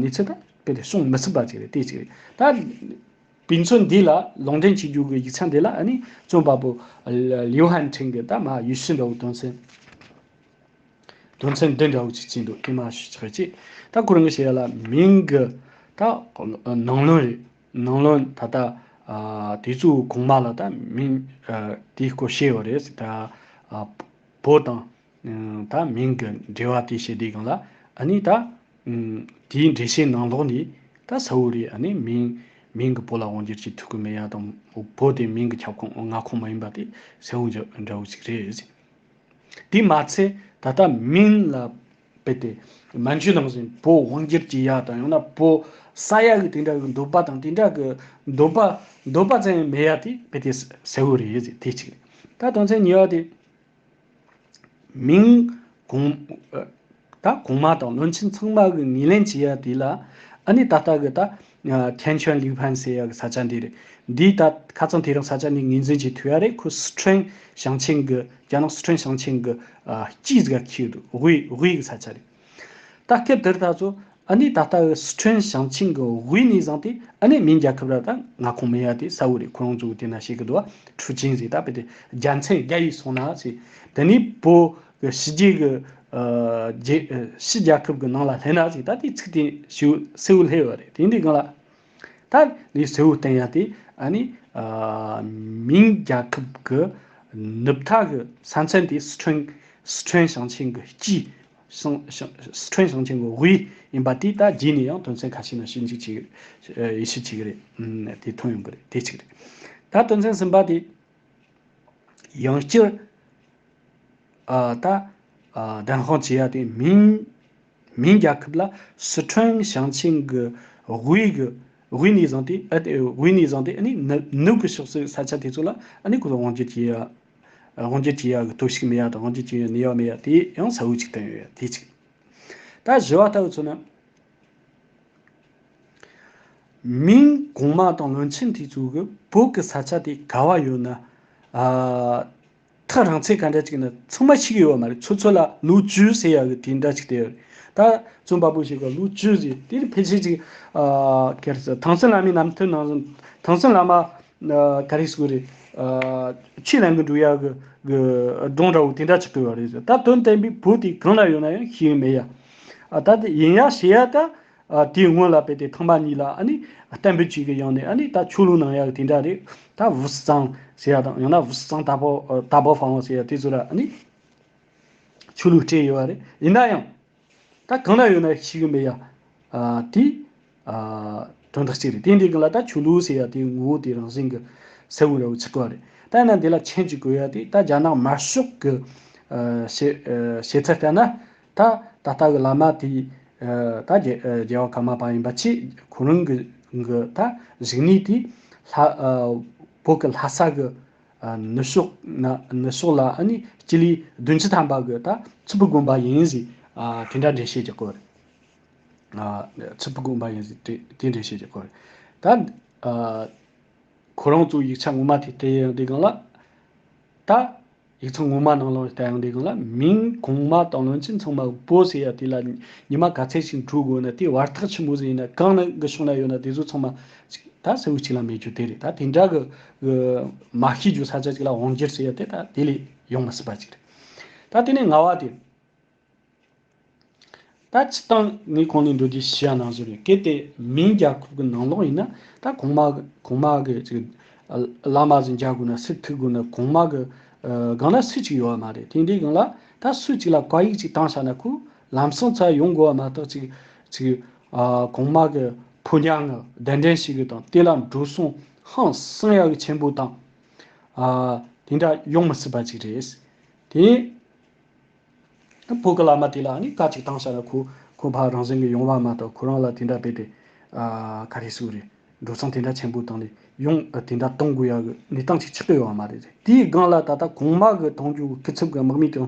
ནུས་ཚད་དང་སྤེལ་རེས་སྲུང་མི་ཚུབ་པ་ཅིག་རེད་དེ་ཅིག་རེད། ད་དུས་མཚུངས་འདི་ལ་ལུང་འདྲེན་བྱེད་རྒྱུ་གི་ཡིག་ཆ་འདི་ལ་ནི་རྩོམ་པ་པོ་ལིའུ་ཧན་ཁྲིན་གྱིས་ད་མ་ཡུས་ཤིན་འདྲ་བོ་དོན་ཚན་དོན་ཚན་འདི་འདྲ་བོ་ཅིག་བྲིས་འདུག་དེ་མ་ཤེས་ཀྱི་རེད། ད་སྐུ་རིང་གི་བཤད་ལ་མིང་གི་ད་ནང་ལོན་རེད། ནང་ལོན་ད་ལྟ་དེ་ཚོ་གོང་མ་ལ་ད་མིང་དེའི་སྐོར་བཤད་ཡོད་རེད། ད་བོད་དང། ད་མིང་གི་འབྲེལ་བ་དེ་བྱེད་དེ་གང་ལ་ཨ་ནི་ད། དེའི་འགྲེལ་བྱེད་ནང་ལོགས་ནི། ད་ས་བོ་རི་ཨ་ནི་མིང། མིང་གི་བོ་ལ་དབང་བསྒྱུར་གྱི་ཐུགས་ཀྱི་མེ་ཡ་དང། བོ་དེ་མིང་གི་ཁྱབ་ཁོངས་མངའ་ཁོངས་མ་ཡིན་པ་དེ་ས་བོན་གྱི་འདྲ་བོ་ཞིག་རེད། དེས་མ་ཚད་ད་ལྟ་མིང་ལ་དཔེ་དེ། མན་ཇུ་ནང་བཞིན་བོ་དབང་བསྒྱུར་གྱི་ཡ་དང་ཡང་ན་བོ། ས་ཡ་གི་དེ་འདྲ་གི་འདོད་པ་དང་དེ་འདྲ་གི་འདོད་པ། འདོད་པ་ཙམ་ཡང་མེད་ཡ་དེ་དཔེ་དེ་ས་བོ་རེད་དེ་གཅིག་རེད། ད་དོན་ཚན་གཉིས་པ་དེ། མིང། གོང། ད་གོང་མ་དང་བློན་ཆེན་ཚང་མ་གི་ངེས་ལེན་བྱེད་ཡག་དེ་ལ། ཨ་ནི་ད་ལྟ་གི་ད། ཁན་ཆོན་ལིའུ་ཕན་ཟེར་ཡག་གི་ས་ཆ་འདི་རེད། འདིའི་ད་ཁ་ཚང་དེ་རིང་ས་ཆ་འདི་ངེས་འཛིན་བྱེད་ཐུབ་ཡག་རེད་ཁོས་སི་ཁྲོན་ཞང་ཆེན་གི་རྒྱ་ནག་སི་ཁྲོན་ཞང་ཆེན་གི། སྤྱིའི་གཟིགས་ཀ་ཁེལ་ཡོད་འདུག་དབུས་དབུས་གི་ས་ཆ་རེད། ལྟག་ཁྱེར་དེར་ད་གཟོད་ཨ་ནེ་ད་ལྟ་བའི་སི་ཁྲོན་ཞིང་ཆེན་གྱི་དབུས་གནས་བཟང་སྟེ་ཨ་ནེ་མིན་རྒྱལ་ཁབ་ར་ད་ང་ཁོང་མི་ཡ་དེ་ས་འོ་རེད་ཁོ་རང་ཚོ་དེ་ན་ཤེས་གི་འདུག་ཨ་ཁྲུ་ཆིན་ཟེར་ད་པེ་དེ་རྒྱལ་མཚན་རྒྱ་ཡིས་སོང་ན་ཟེར་དེ་ནས་བོད་གི་ཕྱི་རྒྱལ་གི་རྒྱལ་ཕྱི་རྒྱལ་ཁབ་གི་ནང་ལ་སླེབས་ན་ཟེར་ད་དེའི་ཚིག་དེ་ཤེའུ་སེའུ་ལྷེ་བ་རེད་དེ་འདི་གང་ལ། ད་ནི་ཟེའུ་བསྟན་ཡ་དེ་ནི་མིང་རྒྱལ་ཁབ་ཀྱི་ནུབ་མཐའ་གྱི་ས་མཚན་དེ་སི་ཁྲོན་སི་ཁྲོན་ཞིང་ཆེན་གྱི་སྤྱི། སི་ཁྲོན་ཞིང་ཆེན་གྱི་དབུས་ཡིན་པ་དེ་ད་རྗེས་ནས་ཡང་དོན་ཚན་ཁ་ཤས་ན་ཤེས་འཇུག་བྱེད་ཡེ་ཤེས་བྱེད་ཀྱི་རེད་དེ་ཐོན་ཡོང་གི་རེད་དེ་གཅིག་རེད། ད་དོན་ཚན་གསུམ་པ་དེ། ཡང་སྤྱིར། ད་བདེན་དཔང་བྱེད་ཡ་དེ་མིང་མིན་རྒྱལ་ཁབ་ལ་སི་ཁྲོན་ཞིང་ཆེན་གྱི་དབུས་གྱི་དབུས་ནས་བཟུང་སྟེ་དབུས་ནས་བཟུང་སྟེ་ནུབ་ཀྱི་ཕྱོགས་སུ་ས་ཆ་དེ་ཚོ་ལ་གོ་ལ་དབང་བསྒྱུར་བྱེད་དབང་བསྒྱུར་བྱེད་ཡག་གི་དོ་ཞིག་མེད་ཡག་དང་དབང་བསྒྱུར་བྱེད་ཡག་ནུས་ཡག་མེད་ཡག་དེ་ཡང་ས་བོན་གཅིག་བསྟན་ཡོད་དེ་གཅིག། ད་བཞི་བ་ལྟ་བུ་ཚོ་ནི། མིན་གོང་མ་དང་བློན་ཆེན་དེ་ཚོ་གི་བོད་ཀྱི་ས་ཆ་དེ་ག་བ་ཡོད་ན། ཐག་རིང་ཚད་ག་འདྲ་ཅིག་ན་ཚང་མ་ཤི་གི་ཡོད་མ་རེད་ཚོད་ཚོད་ལ་ལོ་བཅུ་ཟེར་ཡག་གི་དེ་འདྲ་ཅིག་བསྡད་ཡོད་རེད་ད་བཙོན་པ་པོ་ཞིག་ག་ལོ་བཅུ་ཟེར་དེ་ནི་ཕལ་ཆེར་ཅིག་ག་རེ་ཟེར་ཐང་སན་ལ་མི་རྣམས་མཐུན་སྣང་ཟིན་ཐང་སན་ལ་མ་ག་རེ་ཟེར་གི་རེད་ཕྱི་གླིང་གི་འབྲུག་ཡ་གི་གྲོང་འདྲ་བོ་དེ་འདྲ་ཅིག་ཏུ་ཡོད་རེད་ཟེར་ད་དོན་བསྟན་པའི་བུ་དེ་གང་ན་ཡོད་ན་ཡང་ཤེས་ཡོད་མེད་ཡ་ད་ཡིན་ཡ་ཞེས་ཡ་ད། དེའི་སྔོན་ལ་བལ་དེ་ཐང་པ་གཉིས་ལ་ཨ་ནི་གཏན་འབེབས་གཅིག་གི་ཡང་ནི་ཨ་ནི་ད་ཆུ་ལུང་ནང་ཡག་དེ་འདྲ་རེད་ད་བུ་སི་ཙང་ཟེར་ཡག་དང་ཡང་ན་བུ་སི་ཙང་ད་བོ་ད་བོ་ཧྥང་བོ་ཟེར་ཡག་དེ་ཚོ་ར་ཨ་ནི་ཆུ་ལུག་སྤྲད་ཡོད་པ་རེད་ཡིན་ན་ཡང་ད་གང་ན་ཡོད་ན་ཤི་གི་མེད་ཡ་དེ་དོན་དག་གཅིག་རེད་དེ་འདི་གི་ལ་ད་ཆུ་ལུག་ཟེར་ཡག་དེའི་ངོ་བོ་དེ་རང་བཞིན་གི་ཟེ་འུ་ར་འུ་ཚིག་ཐོག་རེད་ད་ཡིན་ན་འདི་ལ་མཆན་གཅིག་དགོས་ཡ་དེ་ད་རྒྱ་ནག་དམར་ཤོག་གི་བྱེད་བྱེད་ཚད་ལྟར་ན། ད་ད་ལྟ་གི་བླ་མ་དེས་ད་རྒྱལ་བ་ཀརྨ་པ་ཡིན་པ་ཆེས་གོ་རིམ་གྱི་ད་རིག་གནས་དེ་ལྷ་བོད་ཀྱི་ལྷ་ས་གི་ནུབ་ཕྱོགས་ལ་ནི་སྤྱི་ལེ་བདུན་ཅུ་ཐམ་པ་གི་ད་ཚུར་ཕུ་དགོན་པ་ཡིན་ཟེར་དེ་འདྲ་འགྲེལ་བཤད་བྱེད་དགོས་རེད། ཚུར་ཕུ་དགོན་པ་ཡིན་ཟེར་དེ་འགྲེལ་བཤད་བྱེད་དགོས་རེད། ད་ཁོ་རང་ཚོའི་ཡིག་ཆ་ངོ་མ་དེ་དེ་ཡང་དེ་གང་ལ་ད། ཡིག་ཚང་ངོ་མ་ནང་ལོགས་ལྟ་ཡང་འདི་གང་ལ་མིང་གོང་མ་དང་ལོན་ཅིག་མཚུངས་མ་པོ་ཟེར་ཡ་དེ་ལ་ཉི་མ་ག་ཚད་ཅིག་འཁྲུག་དགོས་ན་དེ་བར་ཐག་ཆི་མོ་ཟིག་ཡིན་ན་གང་ན་གི་ཕྱོགས་ན་ཡོད་ན་དེ་ཚོ་ཚང་མ་ཅིག་ད་ཟེར་བུ་ཅིག་ལ་མེད་རྒྱུ་དེ་རེད་ད་དེ་འདྲ་གི་གི་མ་ཤེས་རྒྱུ་ས་ཆ་ཅིག་ལ་འོང་རྒྱུར་ཟེར་ཡ་དེ་ད་དེ་ལས་ཡོང་མི་སྲིད་པ་ཅིག་རེད་ད་དེ་ནས་ང་བ་དེ། ད་ཅི་སྟངས་ངས་ཁོང་ལས་འགྲོ་རྒྱུ་ཞེས་ཡང་ནང་བཟོ་རེ་གལ་ཏེ་མིན་རྒྱ་ཁུག་གི་ནང་ལོག་ཡིན་ན་ད་གོང་མ་གོང་མ་གི་ཅིག་བླ་མ་ཟིན་རྒྱ་དགོས་ན་སི་ཐུག་དགོས་ན་གོང་མ་གི་སྒང་ན་སུ་ཅིག་ཡོད་བ་མ་རེད་དེ་འདྲའི་སྒང་ལ་ད་སུ་ཅིག་ལ་བཀའ་ཡིག་ཅིག་བཏང་ཤག་ན་ཁུག་ལམ་སང་ཚར་ཡོང་དགོས་བ་མ་ཏག་ཅིག་ཅིག་གོང་མ་གི་ཕོ་ཉག་ངག་བདེན་བདེན་ཞིག་གི་དང་དེ་ལ་འགྲོ་སོང་ཧང་སང་ཡག་གི་ཆེན་པོ་དང་དེ་འདྲ་ཡོང་མི་སྲིད་པ་ཅིག་རེད་དེ། བོད་ཀྱི་བླ་མ་དེ་ལ་ནི་བཀའ་གཅིག་བཏང་ཤར་ལ་ཁོ་ཁོ་ཕ་རང་བཞིན་གྱི་ཡོང་བ་མ་གཏོགས་ཁོ་རང་ལ་དེ་འདྲ་དཔེ་དེ། ག་རེ་སུ་རེད་འགྲོ་སོང་དེ་འདྲ་ཆེན་པོ་བཏང་ནས་ཡོང་དེ་འདྲ་གཏོང་དགོས་ཡག་གི་གནས་སྟངས་ཤིག་ཆགས་ཀྱི་ཡོད་མ་རེད་རེད་དེའི་སྒང་ལ་ད་ལྟ་གོང་མ་གི་དོང་རྒྱུག་སྐུ་ཚབ་གི་དམག་མི་དེ་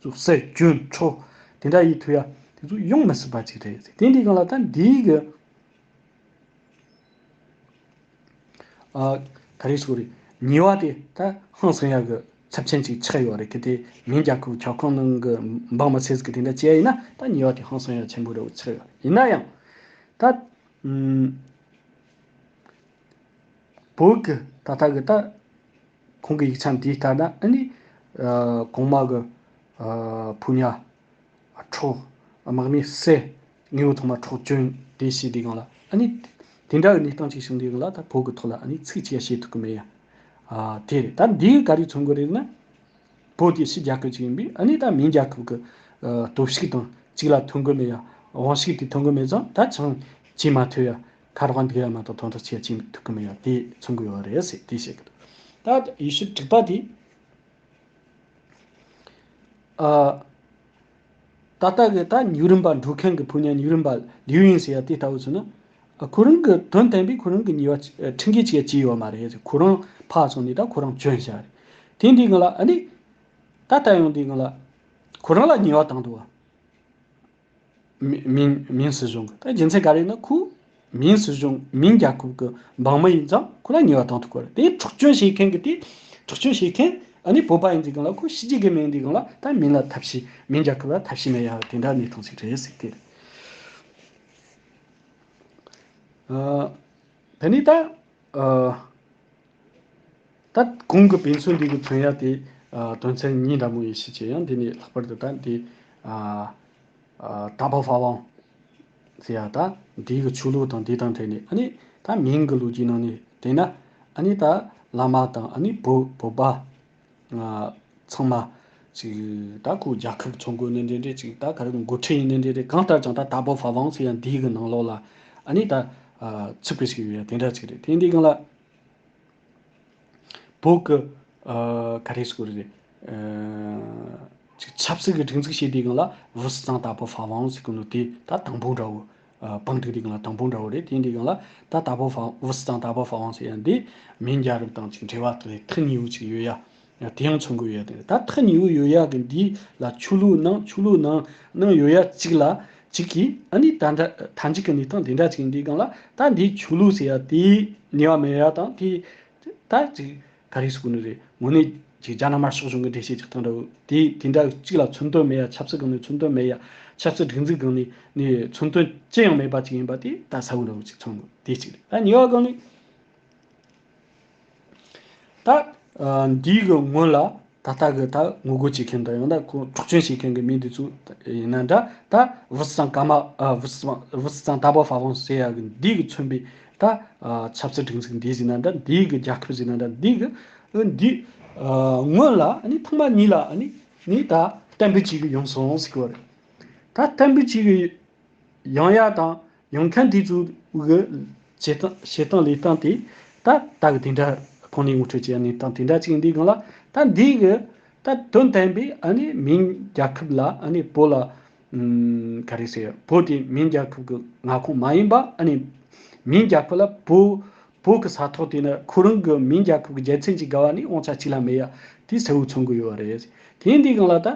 ཚོ་སྲིད་སྐྱོན་མཆོག་དེ་འདྲ་ཡི་ཐུགས་ཡ་དེ་ཚོ་ཡོང་མི་སྲིད་པ་ཅིག་རེད་དེ་འདྲའི་སྒང་ལ་ད་འདིའི་གི། ག་རེ་ཟོ་རེད། ཉེས་བ་དེ་ད་ཧང་སང་ཡག་གི་ཚབ་ཆེན་ཅིག་ཆགས་ཡོད་རེད་གི་དེ་མིན་རྒྱ་ཁུག་ཁྱག་ཁང་ནང་གི་འབངས་མི་ཚེ་ཟིག་གི་དེ་འདྲ་བྱས་ཡིན་ན་ད་ཉེས་བ་དེ་ཧང་སང་ཡག་ཆེན་པོ་རེད་ཆགས་ཡོད་ཡིན་ན་ཡང། ད། བོད་གི་ད་ལྟ་གི་ད། ཁོང་གི་ཡིག་ཆ་འདི་ལྟར་ན་ཨ་ནི། གོང་མ་གི། ཕུ་ཉག་འཕྲོག། དམག་མི་བསད། དངོས་པོ་ཐོག་མར་འཕྲོག་བཅོན། དེ་བྱས་དེ་གང་ལ། ཨཱ་ནི། དེ་འདྲ་བའི་གནས་སྟངས་ཅིག་བྱུང་དུས་གང་ལ་ད་བོད་ཀྱི་ཐོག་ལ་ཨཱ་ནི་ཚིག་གཅིག་ཡང་བཤད་ཐུབ་ཀྱི་མེད་ཡ། དེ་རེད་ད་འདི་ག་རེ་མཚོན་དགོས་རེད་ན། བོད་དེ་ཕྱི་རྒྱལ་ཁབ་ཅིག་ཡིན་པས་ཨཱ་ནི་ད་མིང་རྒྱལ་ཁབ་ཀྱི། སྟོབས་ཤུགས་དང་གཅིག་ལ་ཐོན་དགོས་མེད་ཡ། དབང་ཤུགས་དེ་ཐོན་དགོས་མེད་ཙང་ད་ཆང་བྱེད་མ་ཐུབ་ཡ། ཁ་རོག་འདུག་ཡ་མ་གཏོགས་དོན་དག་ཆེར་བྱེད་ཐུབ་ཀྱི་མེད་ཡ་དེ་མཚོན་དགོས་ཡོད་རེད་ཟེར་དེ་བཤད་ཀྱི་འདུག་ད་ཡེ་ཤུ་དྲུག་པ་དེ། ད་ལྟ་གི་ད་ཉུག་རིམ་པ་འགྲོ་མཁན་གྱི་བུ་ཉག་ཉུག་རིམ་པ་ལིའུ་ཡིན་ཟེར་ཡ་དེ་ལྟ་བུ་ཚོ་ནི། ཁོ་རང་གི་དོན་བསྟན་པས་ཁོ་རང་གི་ཉེས་པ་ཁྲིམས་འགལ་ཅིག་བྱས་ཡོད་མ་རེད་ཁོ་རང་ཕར་སོང་ནས་ད་ཁོ་རང་བྱོན་བཞག་རེད། དེ་འདི་གང་ལ་ཨ་ནི། ད་ལྟ་ཡང་འདི་གང་ལ། ཁོ་རང་ལ་ཉེས་བ་བཏང་འདུག་བ། མིང། མིང་སྲིད་གཞུང་གི་རྒྱུ་མཚན་ག་རེ་ཡིན་ན་ཁོའི་མིང་སྲིད་གཞུང་མིང་རྒྱ་ཁོབ་ཀྱི་འབངས་མི་ཡིན་ཙང་ཁོ་ལ་ཉེས་བ་དང་ཐུག་གི་རེད་དེ་འཁྲུག་སྐྱོན་བྱེད་མཁན་གི་དེ་འཁྲུག་སྐྱོན་བྱེད་མཁན་ནི་བོད་པ་ཡིན་དུས་གང་ལ་ཁོ་ཤི་རྒྱུ་གི་མི་ཡིན་དུས་གང་ལ་ད་མིང་ལ་ཐབས་ཤེས་མིང་རྒྱ་ཁོབ་ལ་ཐབས་ཤེས་མེད་ཡ་དེ་འདྲ་གནས་སྟངས་ཤིག་རེད་ཟེར་གི་རེད། དེ་ནས་ད། ད་གོང་གི་བན་སུ་འདི་གི་དོན་ཡག་དེ། དོན་ཚན་གཉིས་འདྲ་མོ་ཡིན་ཤེས་བྱས་ཡང་འདི་ནས་ལྷག་པར་དུ་ད་འདི། ད་བ་བྷ་བང། ཟེར་ཡག་ད་འདི་གི་ཆོས་ལུགས་དང་འདི་དང་འབྲེལ་ནས་ཨ་ནི། ད་མིང་གི་ལུགས་ཀྱི་ནང་ནས་བལྟས་ན། ཨ་ནི་ད་བླ་མ་དང་ཨ་ནི་བུ་བུ་བ། ང་ཚང་མ། ཅིག་ད་ཁོའི་རྒྱ་ཁབ་ཚོང་དགོས་ནི་འདྲེ་འདྲེ་ཅིག་ད་ག་རེ་མགོ་ཁྲིད་ཡིན་ནི་འདྲེ་འདྲེ་གང་ལྟར་ཀྱང་ད་ད་བོ་ཧྥ་བང་སི་ཡང་དེའི་གི་ནང་ལོག་ལ་ཨ་ནི་ད། ཚིག་པའི་ཞིག་ཡོད་ཡ་དེ་འདྲ་ཅིག་རེད་དེ་འདི་གང་ལ། བོད་གི། ག་རེ་སུ་རེད། ཅིག་ཆབ་སྲིད་གི་སྒྲིག་འཛུགས་ཞེས་དེའི་གང་ལ་བོ་སི་ཙང་ད་བོ་ཧྥ་བང་སི་གི་ནོ་དེ་ད་དང་པོ་འདྲ་བོ། པང་ཐིག་རིགས་ལ་དང་པོ་འདྲ་བོ་རེད་དེའི་འབྲས་གཞུང་ལ་ད་ད་པོ་ཧྥ་འུ་སི་དང་ད་པོ་ཧྥ་ཝང་ཟེར་ཡ་འདི་མིང་རྒྱ་རིགས་དང་ཅིག་འབྲེལ་བ་དེ་ཐི་ཉི་འུ་ཅིག་ཡོད་ཡ། དེ་ཡང་མཚོན་དགོས་ཡོད་དེ་རེད་ད་ཐི་ཉི་འུ་ཡོད་ཡ་གི་འདི་ལ་ཆུ་ལུག་ནང་ཆུ་ལུག་ནང་ནང་ཡོད་ཡ་ཅིག་ལ་ཅིག་གི་ཨ་ནི་ད་འདྲ་ད་འཇིག་གི་འདི་དང་འདི་འདྲ་ཅིག་འདི་གང་ལ་ད་འདི་ཆུ་ལུག་ཟེར་ཡ་དེའི་ནི་བ་མེད་ཡ་དང་དེ་ད་ཅིག་ད་རེས་སུ་གོ་ནི་རེད། དངོས་གནས་ཀྱི་རྒྱ་ནག་དམར་ཤོག་གཞུང་གི་འགྲེལ་བཤད་ཅིག་ཐོན་འདྲ་བོ། དེ་དེ་འདྲ་གཅིག་ལ་མཚོན་དོན་མེད་ཡ་ཆབ་སྲིད་སྒང་ནས་མཚོན་དོན་མེད་ཡ། ཆབ་སྲིད་སྒྲིག་འཛུགས་སྒང་ནས་ནི་མཚོན་དོན་ཅི་ཡང་མེད་པ་ཅིག་ཡིན་པ་དེ་ད་ས་བོན་འདྲ་བོ་ཅིག་མཚོན་འདུག་དེ་གཅིག་རེད། ད་ཉེ་བ་སྒང་ནི། ད་འདིའི་གི་སྔོན་ལ། ད་ལྟ་གི་ད་ངོ་རྒོལ་བྱེད་མཁན་དང་ཡང་ན་ཁོང་འཁྲུག་སྤྱོད་བྱེད་མཁན་གྱི་མི་འདི་ཚོ་ཡིན་ན་འདྲ་ད་བུ་སི་ཙང་ཀ་མ་བུ་སི་ཙང་བུ་སི་ཙང་ཏཱ་པཱ་ཧྥ་ཝང་སེ་ཡ་གི་འདི་གི་མཚོན་པའི་ད་ཆབ་སྲིད་སྒྲིག་འཛུགས་འདི་ཟིན་ན་འདྲ་འདི་གི་རྒྱལ་ཁབ་ཟིན་ན་འདྲ་འདི་གི་འདི་སྔོན་ལ་ནི་ཐོག་མ་ཉིད་ལ་ནི་ནི་ད་བསྟན་འཕེལ་བྱེད་ཀྱི་ཡོང་སོང་ཟིག་གི་བ་རེད་ད་བསྟན་འཕེལ་བྱེད་ཀྱི་ཡང་ཡ་དང་ཡང་ཁ་འདི་ཚོའི་བྱེད་སྟངས་བྱེད་སྟངས་ལས་སྟངས་དེ་ད་ད་གི་དེ་འདྲ་ཁོང་ནས་ངོ་སྤྲོད་བྱས་ནས་སྟངས་དེ་འདྲ་ཅིག་འདི་སྒང་ལ་ད་འདིའི་གི་ད་དོན་བསྟན་པའི་ཨ་ནི་མིང་རྒྱལ་ཁབ་ལ་ཨ་ནི་བོད་ལ་ག་རེ་ཟེར་བོད་དེ་མིང་རྒྱལ་ཁབ་གི་མངའ་ཁོངས་མ་ཡིན་པ་ཨ་ནི་མིང་རྒྱལ་ཁབ་ལ་བོད་བོད་གི་ས་ཐོག་དེ་ནི་ཁོ་རང་གི་མིང་རྒྱལ་ཁབ་གི་རྒྱལ་མཚན་གྱི་དགའ་བ་ནི་དབང་ཆ་གཅིག་ལ་མེད་ཡ་དེ་གསལ་བོ་མཚོན་དགོས་ཡོད་རེད་དེ་འདི་སྒང་ལ་ད།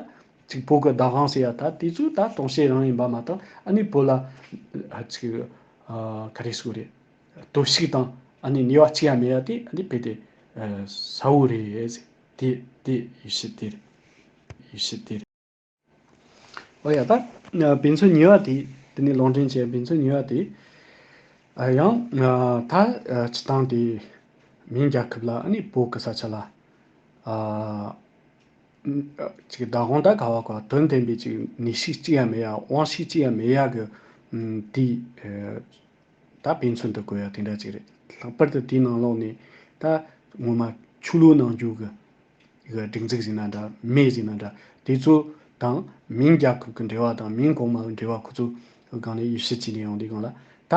གཅིག་བོད་གི་བདག་དབང་ཟེར་ཡ་ད་དེ་ཚོ་ད་དོང་ཤེས་རང་ཡིན་པ་མ་ཏང་ཨ་ནི་བོད་ལ་ག་རེ་སུ་རེད་དོ་བཤིག་དང་ཨ་ནི་ནི་བ་གཅིག་ཡ་མེ་ཡ་དེ་ཨ་ནི་བེད་དེ་ས་བོ་རེད་ཟེར་དེ་དེ་ཡུ་ཤི་དེ་རེད་ཡུ་ཤི་དེ་རེད། ཨོ་ཡ་ད་བེད་ཚོ་ནི་བ་དེ་དེ་ནི་ལོང་དྲིན་ཅན་བེད་ཚོ་ནི་བ་དེ་ཡང་ད་ཆི་ཏང་དེ་མིང་རྒྱ་ཁབ་ལ་ཨ་ནི་བོད་གི་ས་ཆ་ལ་ཨ། བདག་གང་དག་ག་བ་གོ་དོན་བསྟན་པའི་ཅིག་ནི་ཤིག་ཅི་ཡང་མེད་ཡ་དབང་ཤིག་ཅི་ཡང་མེད་ཡ་གི། དེ་ད་ཕན་ཚུན་དུ་གོ་ཡ་དེ་འདྲ་ཅིག་རེད་ལྷག་པར་དུ་དེའི་ནང་ལོགས་ནས་ད་ངོ་མ་ཆུ་ལུག་ནང་རྒྱུག་གི། སྒྲིག་འཛུགས་ཟིན་ན་འདྲ་མེད་ཟིན་ན་འདྲ་དེ་ཚོ་དང་མིང་རྒྱ་ཁབ་ཀྱི་འབྲེལ་བ་དང་མིང་གོང་མ་འབྲེལ་བ་ཁོ་ཚོ་གང་ནས་ཡེ་ཤེས་ཅི་ནས་ཡོང་དེ་གང་ལ་ད།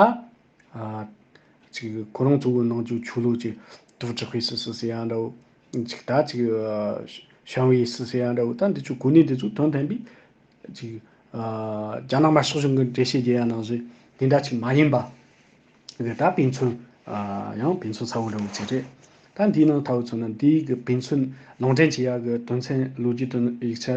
ཅིག་ཁོ་རང་ཚོ་གི་ནང་རྒྱུག་ཆུ་ལུག་ཅིག་དུག་དྲག་པའི་སུ་སུ་ཟེར་ཡ་འདྲ་བོ། ཅིག་དག་ཅིག། ཞང་བོད་ཡིག་སི་སི་ཡང་འདྲ་བོ་ད་འདི་ཆུ་གུ་ནི་འདི་ཚོ་དོན་དན་པའི། ཅིག། རྒྱ་ནག་མ་ཤོག་ཆུང་གི་འགྲེལ་བཤད་རྒྱལ་ཡ་ནང་བཟོས་དེ་འདྲ་ཅིག་མ་ཡིན་པ། དེ་ད་ཕན་ཚུན། ཡང་ཕན་ཚུན་ཚ་བོ་འདྲ་བོ་ཅིག་རེད། ད་འདིའི་ནང་ད་བུ་ཚོ་ནི་འདི་ཡིག་གི་ཕན་ཚུན་ལུང་འདྲེན་བྱེད་ཡག་གི་དོན་ཚན་ལུགས་ཀྱི་དོན་ཡིག་ཆ།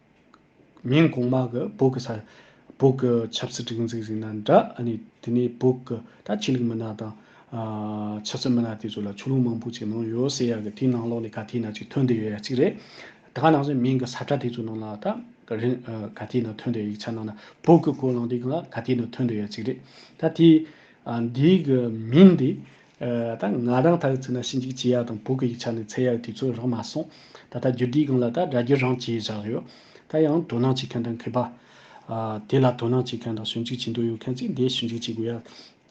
ཉིན་གོང་མ་གི་བོད་ཀྱི་ས་ཆ། བོད་ཀྱི་ཆབ་སྲིད་སྒྲིག་འཛུགས་ཟེར་ན་འདྲ། ཨ་ནི་དེ་ནས་བོད་ཀྱི་ད་ཆོས་ལུགས་མི་སྣ་དང། ཆབ་སྲིད་མི་སྣ་དེ་ཚོ་ལ་ཆོས་ལུགས་མང་པོ་ཅིག་ནང་ཡོད་ཟེར་ཡག་གི་དེའི་ནང་ལོགས་ནས་ག་དེའི་ནང་ཅིག་ཐོན་བསྡད་ཡོད་ཡག་ཅིག་རེད། ད་ནང་ཚན་མིན་གྱི་ས་ཁྲ་དེ་ཚོ་ནང་ལ་ད་ག་དེའི་ནང་ཐོན་བསྡད་ཡིག་ཆ་ནང་ན་བོད་ཀྱི་གོ་ལང་དེ་ག་ལ་ག་དེའི་ནང་ཐོན་བསྡད་ཡག་ཅིག་རེད། ད་དེའི་འདིའི་གྱི་མིང་དེ་ད་ང་རང་ད་ཡོད་ཚོད་ན་ཤིང་འཇིག་བྱེད་ཡག་དང་བོད་གི་ཡིག་ཆ་ནི་ཚད་ཡག་དུས་ཚོད་རག་མ་སོང། ད་ལྟ་རྒྱུ་འབྲས་གང་ལ་ད་སྒྲ་རྒྱུ་རང་བྱས་བཞག་ཡོད། ད་ཡང་དོ་སྣང་བྱེད་མཁན་དང་མཁས་པ། དེ་ལ་དོ་སྣང་བྱེད་མཁན་དང་ཞུ་འཇུག་བྱེད་འདོད་ཡོད་མཁན་ཚོས་འདི་ཞུ་འཇུག་བྱེད་དགོས་ཡག།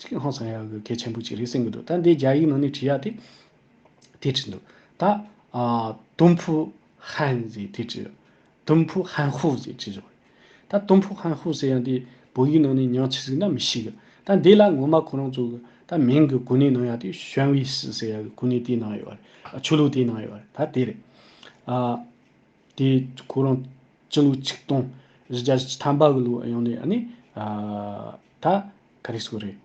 ཅིག་ཧང་སང་ཡག་གི་གལ་ཆེན་པོ་ཅིག་རེད་སེམས་གི་འདུག་ད་འདི་རྒྱ་ཡིག་ནང་ནས་བྲིས་ཡག་དེ། དེ་བྲིས་འདུག་ད། དུམ་བུ་ཧན་ཟེར་དེ་བྲིས་ཡོད། ཏུམ་ཕུག་ཧན་ཧུའུ་ཟེར་གྱི་བཞག་ཡོད། ད་ཏུམ་ཕུག་ཧན་ཧུའུ་ཟེར་ཡང་དེ་བོད་ཡིག་ནང་ནས་ཉག་ཆི་ཟིག་ན་མི་ཤེས་གི། ད་འདི་ལ་ངོ་མ་ཁོ་རང་ཚོ་གི་ད་མིང་གི་གོ་གནས་ནང་ཡང་དེ་ཞོན་ཝི་སི་ཟེར་ཡ་གི་གོ་གནས་དེའི་ནང་ཡོད་རེད། ཆོས་ལུགས་དེའི་ནང་ཡོད་རེད་ད་དེ་རེད། ཨ། དེ་ཁོ་རང་སྤྱི་ལོ་ཆིག་སྟོང་རེ་བརྒྱ་ཆ་ཐམ་པ་གི་ལོ་ཡང་ནས་ཨ་ནི། ད་ག་རེ་ཟོ་རེད།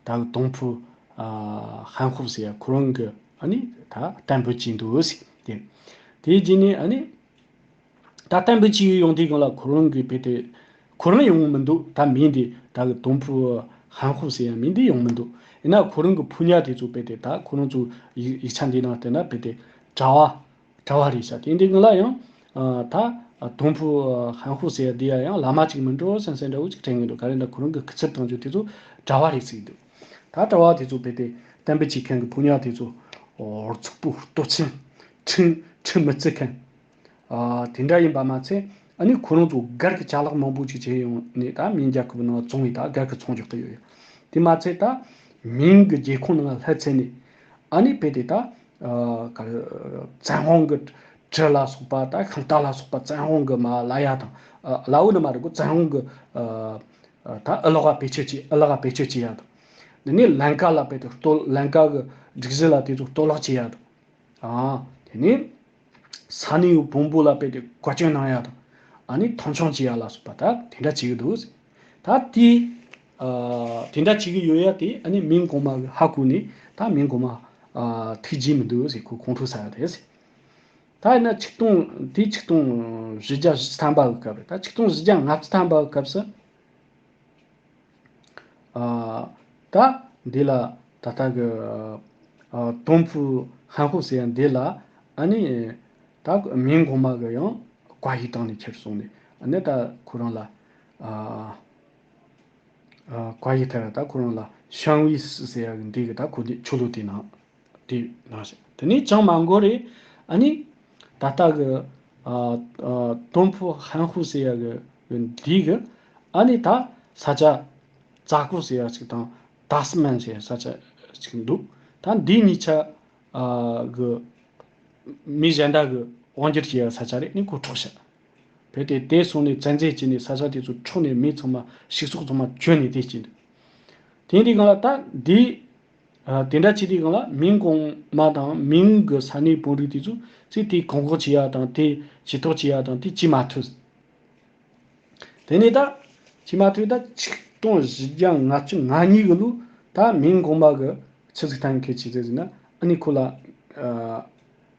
ད་གི་དོང་ཕུ། ཧན་ཧོབ་ཟེ་ཡ་ཁོ་རང་གི་ཨ་ནི་ད་གཏན་འབོད་ཀྱིས་འདུག་ཟེ་དེ། དེའི་རྗེས་ནས་ཨ་ནི། ད་གཏན་འབོད་ཀྱིས་ཡོང་དུས་གང་ལ་ཁོ་རང་གི་བེད་དེ། ཁོ་རང་ཡོང་མི་འདུག་ད་མི་འདི་ད་གི་དོང་ཕུ། ཧན་ཧོབ་ཟེ་ཡ་མི་འདི་ཡོང་མི་འདུག་ཡིན་ན་ཁོ་རང་གི་ཕུ་ཉག་དེ་ཚོ་བེད་དེ་ད་ཁོ་རང་ཚོ་ཡིག་ཆ་འདི་ནང་བསྟན་ན་བེད་དེ། གྲྭ་བ། གྲྭ་བ་རེད་ས་དེ་འདི་ང་ལ་ཡང། ད། དོང་ཕུ། ཧན་ཧུ་ཟེར་འདི་ཡ་ཡང་བླ་མ་གཅིག་མིན་འགྲོ་སེང་སེང་འདྲ་བོ་གཅིག་དྲན་གི་འདུག་ག་རེ་འདྲ་ཁོ་རང་གི་སྐུ་ཚེར་བཏང་རྒྱུ་དེ་ཚོ་གྲྭ་བ་རེད་ཟེར་གི་འདུག་ད་གྲྭ་བ་དེ་ཚོ་བས་ཏེ་གཏན་འབེབས་བྱེད་མཁན་གི་ཕོ་ཉར་དེ་ཚོ། ཧོར་ཚུགས་པོ་ལྟོ་ཚན། ཁྲིམས་ཁྲིམས་མི་བརྩི་མཁན། དེ་འདྲ་ཡིན་པ་མ་ཚད་ཨ་ནི་ཁོ་རང་ཚོ་སྒེར་གི་ཆ་ལག་མང་པོ་གཅིག་བྱེད་ཡོང་ནས་ད་མིང་རྒྱལ་ཁབ་ནང་བཙོང་བས་ད་སྒེར་གི་ཚོང་རྒྱག་གི་ཡོད་ཡ་དེ་མ་ཚད་ད། མིང་གི་རྒྱལ་ཁོངས་ནང་ལྷད་ཚལ་ནས། ཨ་ནི་བས་ཏེ་ད་བཙན་དབང་གི་གྲི་ལ་སོགས་པ་དང་ཤིང་རྟ་ལ་སོགས་པ་བཙན་དབང་གི་མ་བླ་ཡ་དང། བླ་འོ་ནི་མ་རིག་གོ་བཙན་དབང་གི་དང་ཨི་ལོ་ཀ་བེད་སྤྱོད་བྱེད་ཨི་ལ་ཀ་བེད་སྤྱོད་བྱེད་ཡ་དང། འདི་ནི་ལན་ཀ་ལ་བེད་དེ་གཏོ་ལན་ཀ་གི་སྒྲིག་གཞི་ལ་དེ་ཚོ་གཏོ་བརླག་བྱེད་ཡ་དང། དེ་ནི་ས་ནི་ཡོ་བོང་བུ་ལ་བེད་དེ་བཀའ་བཀྱོན་གནང་ཡ་དང། ཨ་ནི་མཐོང་ཆུང་བྱེད་ཡ་ལ་སོགས་པ་དང་དེ་འདྲ་བྱེད་གི་འདུག། ད་དེ་དེ་འདྲ་བྱེད་ཀྱི་ཡོད་ཡ་དེ་ཨ་ནི་མིང་གོང་མ་ཧ་གོ་ནས་ད་མིང་གོང་མ་ཐུགས་རྗེ་མི་འདུག་ཟེར་ཁོ་ཁོང་ཁྲོ་ཟ་ཡ་རེད། ད་ཡིན་ན་ཆིག་སྟོང་དེ་ཆིག་སྟོང་བཞི་བརྒྱ་བཞི་ཐམ་པའི་སྐབས་རེད་ད་ཆིག་སྟོང་བཞི་བརྒྱ་ང་བཅུ་ཐམ་པའི་སྐབས་སུ་ད་འདི་ལ་ད་ལྟ་གི་དོམ་ཕུ་ཧན་ཧོ་ཟེར་ཡ་འདི་ལ་ཨ་ནི་ད་མིང་གོང་མ་གི་ཡང་བཀའ་ཤིག་བཏང་ནས་ཁྱེར་སོང་ནས་ཨ་ནི་ད་ཁོ་རང་ལ་བཀའ་ཡི་ཐལ་བ་དག་ཁོ་རང་ལ་ཤངས་བྷི་སི་ཟེར་ཡག་གི་འདི་གི་ད་གོ་འདི་ཆོ་ལོ་དེ་ནང་དེ་ནང་ཞིག་དེ་ནས་ཅང་མ་འགོར་རེ་ཨ་ནི་ད་ལྟ་གི་ཏོན་ཕུ་ཧན་ཧུ་ཟེར་ཡག་གི་འདི་གི་ཨ་ནི་ད་ས་ཆ་རྩ་ཀོ་ཟེར་ཡག་ཅིག་དང་ཏཱ་སི་མན་ཟེར་ས་ཆ་ཅིག་འདུག་ད་འདི་གཉིས་ཆ་གི་མི་གཞན་དག་གི་དབང་སྒྱུར་བྱེད་ཡག་ས་ཆ་རེད་ནི་གོ་ཐྲོག་བྱ། བོད་དེ་བདེ་སོང་ནས་ཚན་རྩལ་བྱས་ནས་ས་ཆ་དེ་ཚོ་འཕྲོག་ནས་མི་ཚང་མ་ཞིག་སོགས་ཚང་མ་གྱོན་ནས་བསྡད་ཀྱིན་འདུག་དེ་འདི་གང་ལ་ལྟ། འདི། དེ་འདྲ་བྱེད་དེ་གང་ལ་མིང་གོང་མ་དང་མིང་གི་ས་གནས་དཔོན་རིགས་དེ་ཚོ་ཚིག་དེ་གོང་གོང་བྱེད་ཡ་དང་དེ་བྱེད་ཐོག་བྱེད་ཡ་དང་དེ་བྱེད་མ་ཐུབ། དེ་ནས་ད། བྱེད་མ་ཐུབ་ད་ཆིག་སྟོང་བཞི་བརྒྱ་ང་བཅུ་ང་གཉིས་གི་ལོ་ད་མིང་གོང་མ་གི་ཆི་ཚིག་ཐང་གི་བྱེད་ཚད་ཟིན་ན་ཨ་ནི་ཁོ་ལ།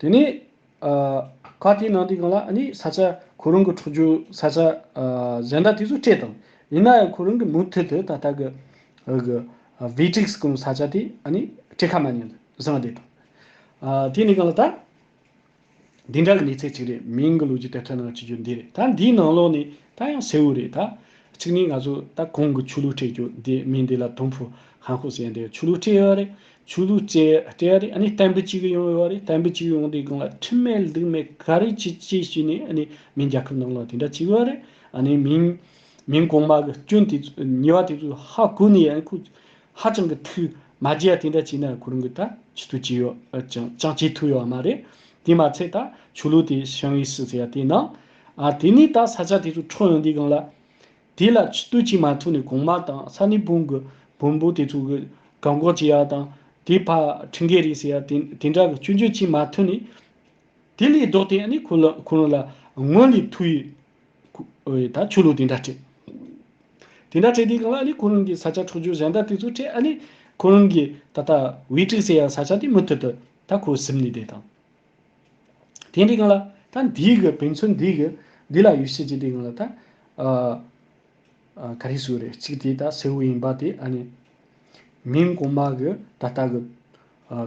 དེ་ནས་ཁ་དེའི་ནང་དུ་གང་ལ་ནི་ས་ཆ་ཁོ་རང་གི་འཁྲུག་རྒྱུ་ས་ཆ་གཞན་དག་དེ་ཚོ་སྤྲད་དང། ཡིན་ན་ཡང་ཁོ་རང་གི་མུ་མཐུད་དུ་ད་ལྟ་གི་བྷི་ཏྲིག་སི་ཀུ་ནི་ས་ཆ་དེ་ནི་སྤྲད་ཁ་མ་ཉན་དུ་བཟང་བསྡད་དང། དེ་ནས་གང་ལ་ད། འདི་འདྲ་ལ་གནས་ཚད་གཅིག་རེད་མིང་གི་ལོ་རྒྱུས་དེབ་ཐེར་ནང་བྲིས་རྒྱུ་འདི་རེད་ད་འདིའི་ནང་ལོགས་ནས་ད་ཡང་གསལ་བོ་རེད་ད། གཅིག་ནས་ང་ཚོ་ད་གོང་གི་ཆོས་ལུགས་སྤྲད་རྒྱུ་འདི་མིང་འདི་ལ་དོམ་ཕུ་ཧན་ཧོ་ཟེར་འདི་ཆོས་ལུགས་སྤྲད་ཡོད་རེད་ཆོས་ལུགས་སྤྲད་སྤྲད་ཡོད་རེད་ནས་བསྟན་པ་གཅིག་གི་ཡོང་ཡོད་རེད་བསྟན་པ་གཅིག་གི་ཡོང་དེའི་སྒང་ལ་ཁྲིམས་མེད་སྡིག་མེད་ག་རེ་བྱས་བྱས་བྱས་ནས་ནས་མིང་རྒྱལ་ཁབ་ནང་ལོགས་དེ་འདྲ་བྱས་ཡོད་རེད་ནས་མིང་མིང་གོང་མ་གི་སྐྱོན་དེ་ཚོ་ཉེས་པ་དེ་ཚོ་ཧ་གོ་ནས་ཡང་ཁུ། ཧ་ཅང་གི་ཐུགས་མ་བརྗེད་ཡ་དེ་འདྲ་བྱས་ན་གོ་རིམ་གྱི་ད་ཇི་ཐུགས་བྱས་ཡོད་ཅང་བྱས་ཐུགས་ཡོད་བ་མ་རེད་དེ་མ་ཚད་ད་ཆོས་ལུགས་དེ་ཞང་ཡིག་སི་ཟེར་ཡ་དེ་ནང་ཨ་དེ་ནས་ད་ས་ཆ་དེ་ཚོ་འཕྲོག་ཡོང་དུས་གང་ལ་དེ་ལ་ཇི་ལྟོས་བྱས་མ་ཐུགས་ནས་གོང་མ་དང་ས་ནི་བུང་གི་བོན་པོ་དེ་ཚོ་གི་གང་འགོག་བྱས་ཡ་དང་དེ་ཕ་ཁྲིན་གེ་རེད་ཟེར་ཡ་དེ་དེ་འདྲ་གི་སྐྱོན་བརྗོད་བྱས་མ་ཐུགས་ནས་དེ་ལས་ལྡོག་སྟེ་ཨ་ནི་ཁོ་རང་ལ་སྔོན་ལས་ཐུགས་ཡོད། ད་ཆོས་ལུགས་དེ་འདྲ་སྤྲད། དེ་འདྲ་སྤྲད་དེ་གང་ལ་ཨ་ལི་ཁོ་རང་གི་ས་ཆ་འཕྲོག་རྒྱུ་གཞན་དག་དེ་ཚོ་སྤྲད་ཨ་ལི་ཁོ་རང་གི་ད་ལྟ་བིས་དྲིས་ཟེར་ཡང་ས་ཆ་དེ་མུ་མཐུད་དུ་ད་ཁོ་སིབ་ནས་བསྡད་དང། དེ་འདྲས་གང་ལ་ད་འདིའི་གི་བོན་ཆོས་འདིའི་གི་འདི་ལ་ཡུལ་ཤེས་ཀྱི་དེ་གང་ལ་ད་ག་རེ་ཟོས་རེད་གཅིག་དེ་ད་སེའུ་ཡིན་པ་དེ་ཨ་ནི་མིང་གོང་མ་གི་ད་ལྟ་གི་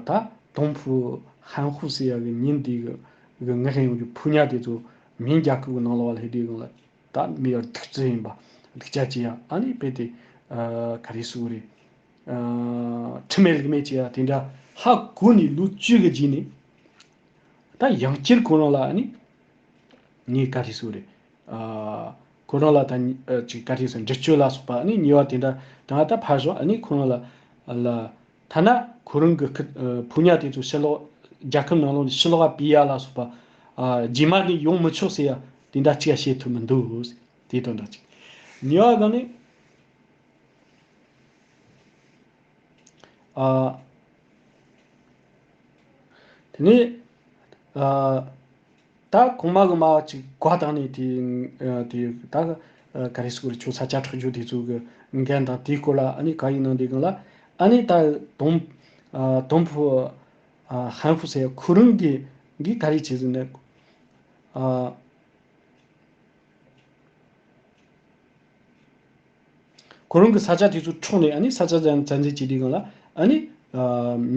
ད་དོང་ཕུ་ཧན་ཧུ་ཟེར་ཡ་གི་ཉིན་དེའི་གི་ངའི་ཧན་ཡོང་གི་ཕུ་ཉག་དེ་ཚོ་མིན་རྒྱ་ཁབ་ཀྱི་ནང་ལ་བ་ལྷའི་སྡེ་དགོན་ལ་ད་མི་ཡར་ཐུག་རྩི་ཡིན་པ་སྡིག་ཅག་ཅི་ཡ་ཨ་ནི་དཔེ་དེ་ག་རེ་སུ་རེད་ཁྲི་མེད་ལིག་མེད་ཅི་ཡ་དེ་འདྲ་ཧ་གོ་ནི་ལུག་བཅུ་གི་རྗེས་ནི་ད་ཡང་སྤྱིར་ཁོ་རང་ལ་ཨ་ནི་ངས་ག་རེ་སུ་རེད་ཁོ་རང་ལ་ད་ཅིག་ག་རེ་སུ་འདྲི་གཅོད་ལ་སོགས་པ་ཨ་ནི་ཉེས་བ་དེ་འདྲ་དང་ད་ཕར་ཞོག་ཨ་ནི་ཁོ་རང་ལ་ལ་ཐ་ན་ཁོ་རང་གི་བུ་ཉག་དེ་ཚོ་ཕྱི་ལོག་རྒྱལ་ཁབ་ནང་ལོག་ནས་ཕྱི་ལོག་ག་བི་ཡ་ལ་སོགས་པ་རྗེས་མ་ནས་ཡོང་མི་ཆོག་ཟེར་ཡ་དེ་འདྲ་གཅིག་ག་བཤད་ཐུབ་མི་འདུག་དེ་དང་འདྲ་ཅིག་ཉེ་བ་གང་ནི། ཨ། དེ་ནས། ད་གོང་མ་གི་མ་གཅིག་དགའ་བཏང་ནས་དེ་དེ་ད་ག་རེ་སུ་རེ་ཆོས་ས་བཅའ་ཁྲག་རྒྱུག་དེ་ཚོ་གི་འགན་དང་དེའི་སྐོར་ལ་ཨ་ནི་ག་ཡིན་གནང་དེ་གང་ལ་ཨ་ནི་ད་དོམ་དོམ་ཕུ་ཧན་ཕུ་སའི་ཁུ་རུང་གི་གིས་ག་རེ་བྱས་ཟིན་ནི་ཨ། ཁོ་རང་གི་ས་ཆ་དེ་ཚོ་འཕྲོག་ནས་ཨ་ས་ཆ་ཚ་འཛིན་བྱས་དེ་གང་ལ་ཨ་ནི་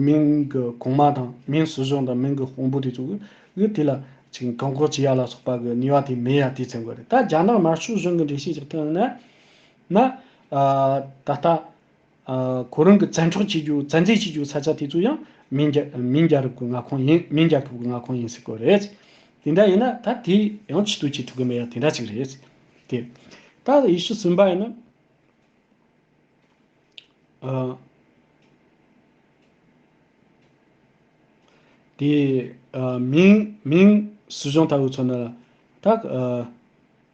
མིང་གི་གོང་མ་དང་མིང་སྲིད་གཞུང་དང་མིང་གི་དཔོན་པོ་དེ་ཚོ་གིས་དེ་ལ་ཅིག་བཀག་འགོག་བྱེད་ཡ་ལ་སོགས་པ་གི་ནུས་བ་དེ་མེད་ཡ་དེ་ཚན་དགོས་རེད་ད་རྒྱ་ནག་དམར་ཤོག་གཞུང་གི་འགྲེལ་བཤད་ཀྱི་སྟེང་ནས་ན་ད་ལྟ་ཁོ་རང་གི་བཙན་འཕྲོག་བྱེད་རྒྱུ་བཙན་འཛུལ་བྱེད་རྒྱུའི་ས་ཆ་དེ་ཚོ་ཡང་མིན་རྒྱ་མིན་རྒྱ་རབས་ཀྱི་མངའ་ཁོངས་ཡིན་མིན་རྒྱ་ཁབ་ཀྱི་མངའ་ཁོངས་ཡིན་སྲིད་དགོས་རེད། དེ་འདྲ་ཡིན་ན་ད་དེ་ཡང་ཕྱི་དུ་བྱེད་ཐུབ་གི་མེད་ཡ་དེ་འདྲ་ཅིག་རེད། དེ་ད་ཡེ་ཤུ་སེམས་དཔའ་ཡིན་ན། དེ་མིང་མིང་སྲིད་གཞུང་ལྟ་བུ་ཚོ་ནི་ད།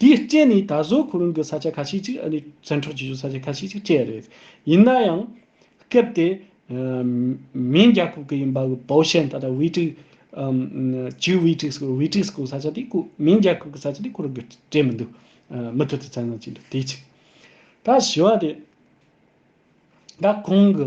དེའི་རྐྱེན་ནི་ད་གཟོད་ཁོ་རང་གི་ས་ཆ་ཁ་ཤས་ཅིག་ཨ་ནུས་བཙན་འཕྲོག་བྱེད་ཆོག་ས་ཆ་ཁ་ཤས་ཅིག་སྤྲད་རེད། ཡིན་ན་ཡང། སྐབས་དེ། མིན་རྒྱ་ཁུག་གི་ཡིན་པ་གི་པའོ་ཤན་ད་ལྟ་ཝི་ཀྲིག། ཇུའུ་ཝི་ཀྲིག་སྐོར་ཝི་ཀྲིག་སྐོར་ས་ཆ་དེ་ཁོ་མིན་རྒྱ་ཁུག་གི་ས་ཆ་དེ་ཁོ་རང་གི་སྤྲད་མི་འདུག་མུ་མཐུད་དུ་བཙན་བཟུང་བྱས་འདུག་དེ་གཅིག། ད་བཞི་བ་དེ། ད་ཁོང་གི་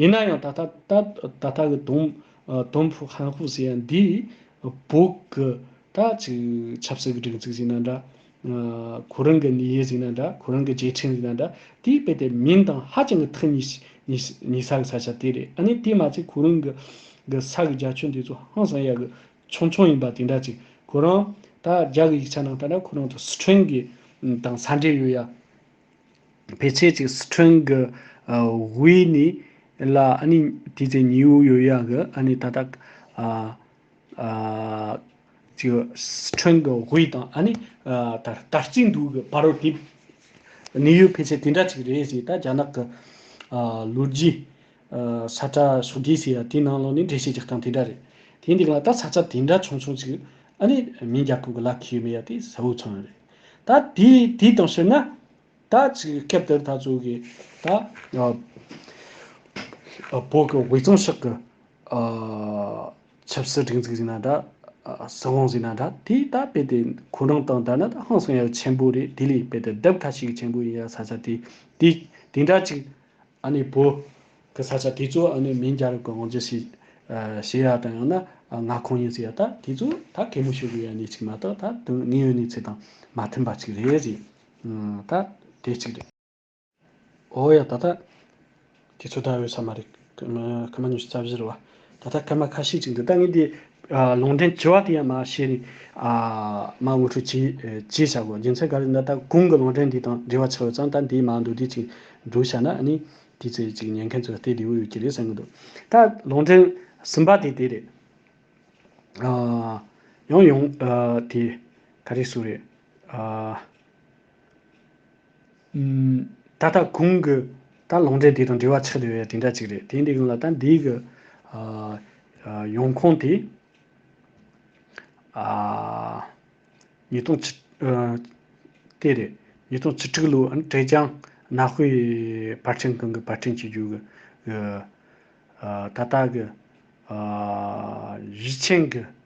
ཡིན་ན་ཡང་ད་ལྟ་ད་ལྟ་གི་དོམ་ཕུག་ཧན་ཧུ་ཟེར་ཡང་འདིའི་བོད་ཀྱི་ད་ཅིག་ཆབ་སྲིད་ཀྱི་སྒྲིག་འཛུགས་ཟེར་ན་འདྲ། གོ་རིམ་གྱི་ནི་ཡེ་ཟེར་ན་འདྲ་གོ་རིམ་གྱི་རྗེས་འཕྲེང་ཟེར་ན་འདྲ་དེའི་དཔེ་དེ་མིང་དང་ཧ་ཅང་གི་ཐུག་ཉེ་ས་གི་ས་ཆ་དེ་རེད་ཨ་ནི་དེ་མ་ཚད་གོ་རིམ་གྱི་ས་གི་རྒྱ་ཆོས་འདི་ཚོ་ཧང་སང་ཡག་གི་ཆུང་ཆུང་ཡིན་པ་དེ་འདྲ་ཅིག་ཁོ་རང་ད་རྒྱ་གི་ཡིག་ཆ་ནང་ད་ལྟ་ཁོ་རང་ཚོ་སི་ཁྲོན་གྱི་དང་ས་འབྲེལ་ཡོད་ཡ། ཕལ་ཆེར་གྱི་སི་ཁྲོན་གྱི་དབུས་ནི་ལ་དེའི་ཚེ་ཉི་འུ་ཡོད་ཡ་གི་ད་ལྟ་གྱི་སི་ཁྲོན་གྱི་དབུས་དང་དར་གཅིག་འདུག་གི་བར་རོ་དེ་ནི་ཡུལ་ཕལ་ཆེར་དེ་འདྲ་གཅིག་རེད་ཅེས་ད་རྒྱ་ནག་གི་ལོ་རྒྱུས་ས་བཀྲ་སོ་རྒྱས་ཟེར་ཡ་དེ་ནང་ལོགས་ནས་འགྲེལ་བཤད་ཀྱི་སྟངས་དེ་འདྲ་རེད། དེ་འདེགས་ལ་ད་ས་ཆ་དེ་འདྲ་ཆུང་ཆུང་ཅིག་ཨ་ནེ་མིང་རྒྱ་ཕུག་གི་ལ་ཁེ་ཡོད་མེད་ཡ་དེ་གཟའ་བོའི་ཚོང་རེད། ད་དེ་དེ་དང་བཤེར་ན། ད་ཅིག་སྐབས་དེར་ད་གཙོས་གི་ད་བོད་གི་དབུས་གཙང་ཕྱག་གི་ཆབ་སྲིད་སྒྲིག་འཛུགས་ཟེར་ན་འདྲ། སྲིད་དབང་ཟེར་ན་འདྲ་དེ་ད་རྦད་དེ་ཁོ་རང་དང་འདྲ་ན་ད་ཧང་སང་ཡ་ཆེན་པོ་རེད་དེ་ལས་རྦད་དེ་རྡབ་ཁ་ཤིག་ཆེན་པོ་ཡིན་ཡ་ས་ཆ་དེ་དེ་འདྲ་ཅིག་ཨ་ནི་བོ། གི་ས་ཆ་དེ་ཚོ་ཨ་ནི་མིང་རྒྱ་རབས་ཀྱི་ཝང་ཇི་ཞིག། ཞེས་ཡ་དང་ཡང་ན་ང་ཁོང་ཡིན་ཟེར་ཡ་ད་དེ་ཚོ་ད་གད་མོ་ཞུ་དགོས་ཡ་ནི་ཅིག་མ་གཏོགས་ད་དོན་དངོས་ཡོད་གནས་ཚུལ་དང་མ་མཐུན་པ་ཅིག་རེད་ཟེར། ད་དེ་ཅིག་རེད། ཨོ་ཡ་ད་ད། དེ་ཚོ་ད་འོས་ས་མ་རེད། ཁ་མ་ཉོ་ཤི་རྩ་བཞི་རུ་བ། ད་ལྟ་སྐར་མ་ཁ་ཤས་ཅིག་འདུག་ད་ངས་དེ། ལུང་འདྲེན་བྱེད་བ་དེ་ཡང་མ་བྱས་ནས། མ་དབུ་ཁྲུག་བྱས་བྱས་བྱ་དགོས་རྒྱུ་མཚན་ག་རེ་ན་ད་གུང་གི་ལུང་འདྲེན་དེ་དང་འབྲེལ་བ་ཆགས་ཡོད་ཙང་ད་དེའི་མ་འདུག་དེ་ཅིག་འདུག་བྱས་ན་ནི། དེའི་ཚེ་ཅིག་ཉན་མཁན་ཚོས་ལྟས་བདེ་བོ་ཡོད་ཀྱི་རེད་བསམ་གྱི་འདུག་ད་ལུང་འདྲེན་གསུམ་པ་དེ་དེ་རེད། ཡང་ཡང་དེ་ག་རེ་ཟུག་རེད། ད་ལྟ་གོང་གི་ད་ལོང་འབྲེལ་དེ་དང་འབྲེལ་བ་ཆགས་བསྡད་པའི་དེ་འདྲ་ཅིག་རེད་དེ་འདི་གོང་ལ་ད་འདིའི་གི་ཡོང་ཁུངས་དེ་ཉིས་སྟོང་བཅུ་དེ་རེད་ཉིས་སྟོང་བཅུ་དྲུག་ལོའི་ཀྲེ་ཅང་གནའ་དཔེ་པར་ཕྲེང་གང་གི་པར་ཕྲེང་བྱེད་རྒྱུ་གི་ད་ལྟ་གི་གཞི་ཆེན་གི་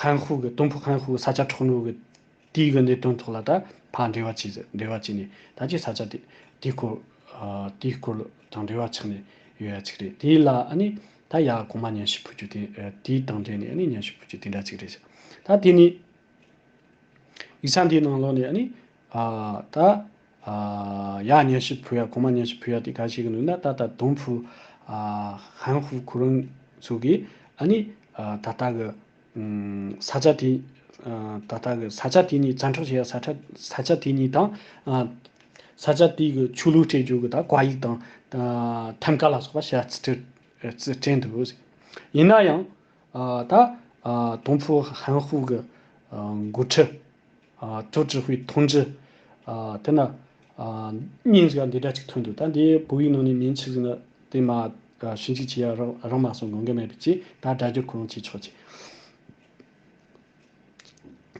ཧན་ཧུའུ་གིས་ཏུང་ཕུའུ་ཧན་ཧུའུ་ས་ཆ་འཕྲོག་ནུས་ཀྱི་དུས་ཀྱི་གནད་དོན་ཐོག་ལ་ད་བར་འབྲེལ་བ་བྱས་ནས་ད་ཅི་ས་ཆ་དེའི་སྐོར་དེའི་སྐོར་དང་འབྲེལ་བ་ཆགས་ནས་ཡོད་ཡ་ཅིག་རེད་དེ་ལ་ནི་ད་ཡ་གོང་མ་ཉན་ཞིག་ཕུལ་རྒྱུ་དེ་དེའི་དང་འབྲེལ་ནས་ནི་ཉན་ཞིག་ཕུལ་རྒྱུ་དེ་འདྲ་ཅིག་རེད། ད་དེ་ནི་ཡིག་ཆ་འདིའི་ནང་ལོགས་ནས་ནི་ད། ཡ། མཉེན་ཤི་བུ་ཡ་གོང་མ་མཉེན་ཤི་བུ་ཡ་དེ་ག་ཞིག་ཡིན་ནུས་ན་ད་ལྟ་དུང་ཕུ། ཧན་ཧུ་གུ་རུང་ཚུ་གིས་ཨ་ནི། ད་ལྟ་གི། ས་ཆ་དེ། ད་ལྟ་གི་ས་ཆ་དེ་ཉིད་བཙན་འཕྲོག་བྱས་ཡ་ས་ཁྲ་ས་ཆ་དེ་ཉིད་དང། ས་ཆ་དེ་གི་ཆོས་ལུགས་སྤྲད་རྒྱུ་གི་ད་ག་ཡིག་དང། ཐེམ་ཀ་ལ་སོགས་པ་ཤ་ཚ་སྤྲད། སྤྲད་འདུག་ཟེར། ཡིན་ན་ཡང། ད། དུང་ཕུ་ཧན་ཧུ་གི། འགོ་ཁྲི། ཐུགས་ཀྱི་ཧུད་མཐོང་རྒྱུ། དེ་ན། སྙིང་རྗེ་བ་འདི་འདྲ་གཅིག་ཐོན་འདུག་ད་འདི་བོད་ཡིག་ནང་ནས་མིང་ཆིག་ཟིན་ན། དེ་མ། ཤིང་གཅིག་བྱས་ཡ་རང་མ་སོང་དགོངས་འགལ་མེད་པའི་ཆེད་ད་སྒྲ་བསྒྱུར་གོ་རུང་བྱེད་ཆོག་ཅིག།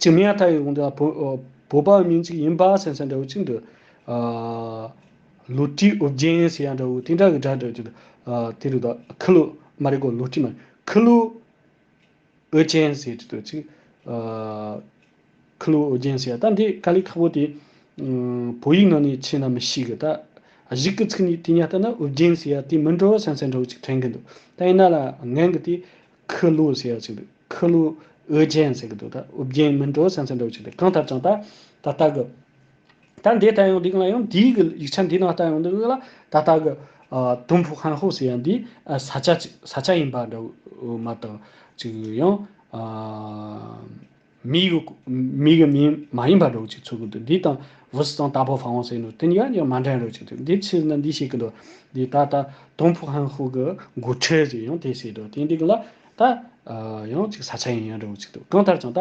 ཅིག་མི་ཡ་ཐ་ཡི་དགོངས་འདུ་ཡ། བོད་པ་མིང་ཅིག་ཡིན་པ་སེམས་སེམས་འདྲ་བོ་གཅིག་འདུག། ལུས་ཀྲི་ཨུ་བརྒྱན་ཟེར་ཡ་འདྲ་བོ་དེ་འདྲ་གི་སྒྲ་འདྲ་གཅིག་འདུག། དེ་རུ་ད་ཁི་ལུ་མ་རེད་གོ་ལུས་ཀྲི་མ་རེད། ཁི་ལུ། ཨོ་རྒྱན་ཟེར་གྱི་འདུག་ཅིག། ཁུ་ལུ་ཨོ་རྒྱན་ཟེར་ད་འདི་ཀ་ལི་ཁ་བོ་དེ། བོད་ཡིག་ནང་ནས་ཕྱེས་ན་མི་ཤེས་གི་ད། གཞིག་གི་ཚིག་ནི་དེ་ཉག་ལྟ་ན་ཨོ་རྒྱན་ཟེར་ཡ་དེ་མི་འགྲོ་སེམས་སེམས་འདྲ་བོ་ཅིག་དྲན་གི་འདུག་ད་ཡིན་ན་ལ་ངན་གི་དེ། ཁུ་ལུ་ཟེར་ཅིག་འདུག་ཁུ་ལུ་ཨོ་རྒྱན་ཟེར་གི་འདུག་ད་ཨོ་རྒྱན་མི་འགྲོ་སེམས་སེམས་འདྲ་བོ་ཅིག་དེ་གང་ཐབས་ཀྱང་ད། ད་ལྟ་གི། ད་འདི་ལྟ་ཡང་འདི་ལ་ཡང་འདིའི་གི་ཡིག་ཆ་འདི་ནང་ལྟ་ཡང་འདི་གི་ལ་ད་ལྟ་གི། དུམ་བུ་ཧན་ཧོ་ཟེར་ཡང་འདི་ས་ཆ་ཅིག་ས་ཆ་ཡིན་པ་འདྲ་བོ་མ་གཏོགས་ཅིག་གི་ཡང། མིའི་གི་མིའི་གི་མིང་མ་ཡིན་པ་འདྲ་བོ་ཅིག་ཚུགས་ཀི་འདུག་འདི་དང་བུ་སི་ཙང་ཏཱ་པོ་ཧྥ་ཝང་ཟེར་ནུ་དེ་གཉིས་ཀ་ཡང་མ་འདྲ་འདྲ་ཅིག་འདུག་འདི་ཕྱི་ན་འདི་བཤད་གི་འདུག་འདི་ད་ལྟ་དུམ་བུ་ཧན་ཧོ་གི་མགོ་ཁྲིད་ཟེར་ཡང་དེ་བཤད་འདུག་དེ་འདི་གི་ལ་ད། ཡང་ཅིག་ས་ཆ་ཡིན་ཡང་འདྲ་བོ་ཅིག་འདུག་གང་ལྟར་ཀྱང་ད།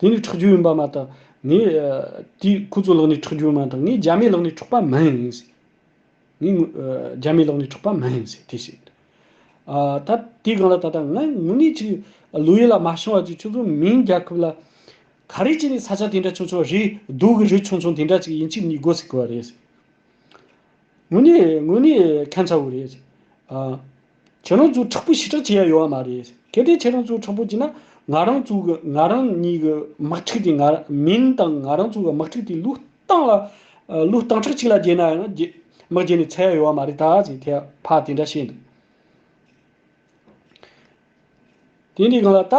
དེ་ནི་ཁྲག་རྒྱུན་ཡིན་པ་མ་གཏོགས་ངས། དེས་ཁོ་ཚོའི་ལག་ནས་ཁྲག་རྒྱུན་མ་གཏོགས་ངས་རྒྱ་མའི་ལག་ནས་འཕྲོག་པ་མ་ཡིན། ངས་རྒྱ་མའི་ལག་ནས་འཕྲོག་པ་མ་ཡིན། དེས་བཤད། ད་དེའི་སྒང་ལ་ད་ལྟ་ང་དངོས་གནས་ཅིག་ལོ་ཡོད་ལ་མ་བྱུང་བ་ཅིག་ཁྱོད་ཚོ་མིང་རྒྱལ་ཁབ་ལ། ག་རེ་བྱས་ནས་ས་ཆ་དེ་འདྲ་ཆུང་ཆུང་རི་རྡོ་གི་རི་ཆུང་ཆུང་དེ་འདྲ་ཅིག་ཡིན་ཕྱིར་ནི་དགོ་སྲིད་དགོ་བ་རེད། དངོས་གནས་དངོས་གནས་ཁན་ཚ་བོ་རེད། ཁྱེད་རང་ཚོས་དྲག་པོ་ཞི་དྲག་བྱེད་ཡ་ཡོད་བ་མ་རེད་གལ་ཏེ་ཁྱེད་རང་ཚོས་དྲག་པོ་བྱེད་ན་ང་རང་ཚོ་གི་ང་རང་ཉིད་ཀྱི་དམག་འཁྲུག་དེ་ང་མིན་དང་ང་རང་ཚོ་གི་དམག་འཁྲུག་དེ་ལུས་སྟངས་ལ་ལུས་སྟངས་ཁྲག་གཅིག་ལ་བརྗེས་ན་ཡང་དམག་བརྗེས་ནས་ཚར་ཡ་ཡོད་བ་མ་རེད་ད་ཟེར་ཐལ་བ་དེ་འདྲ་བཤད་འདུག་དེ་འདྲའི་གང་ལ་ལྟ།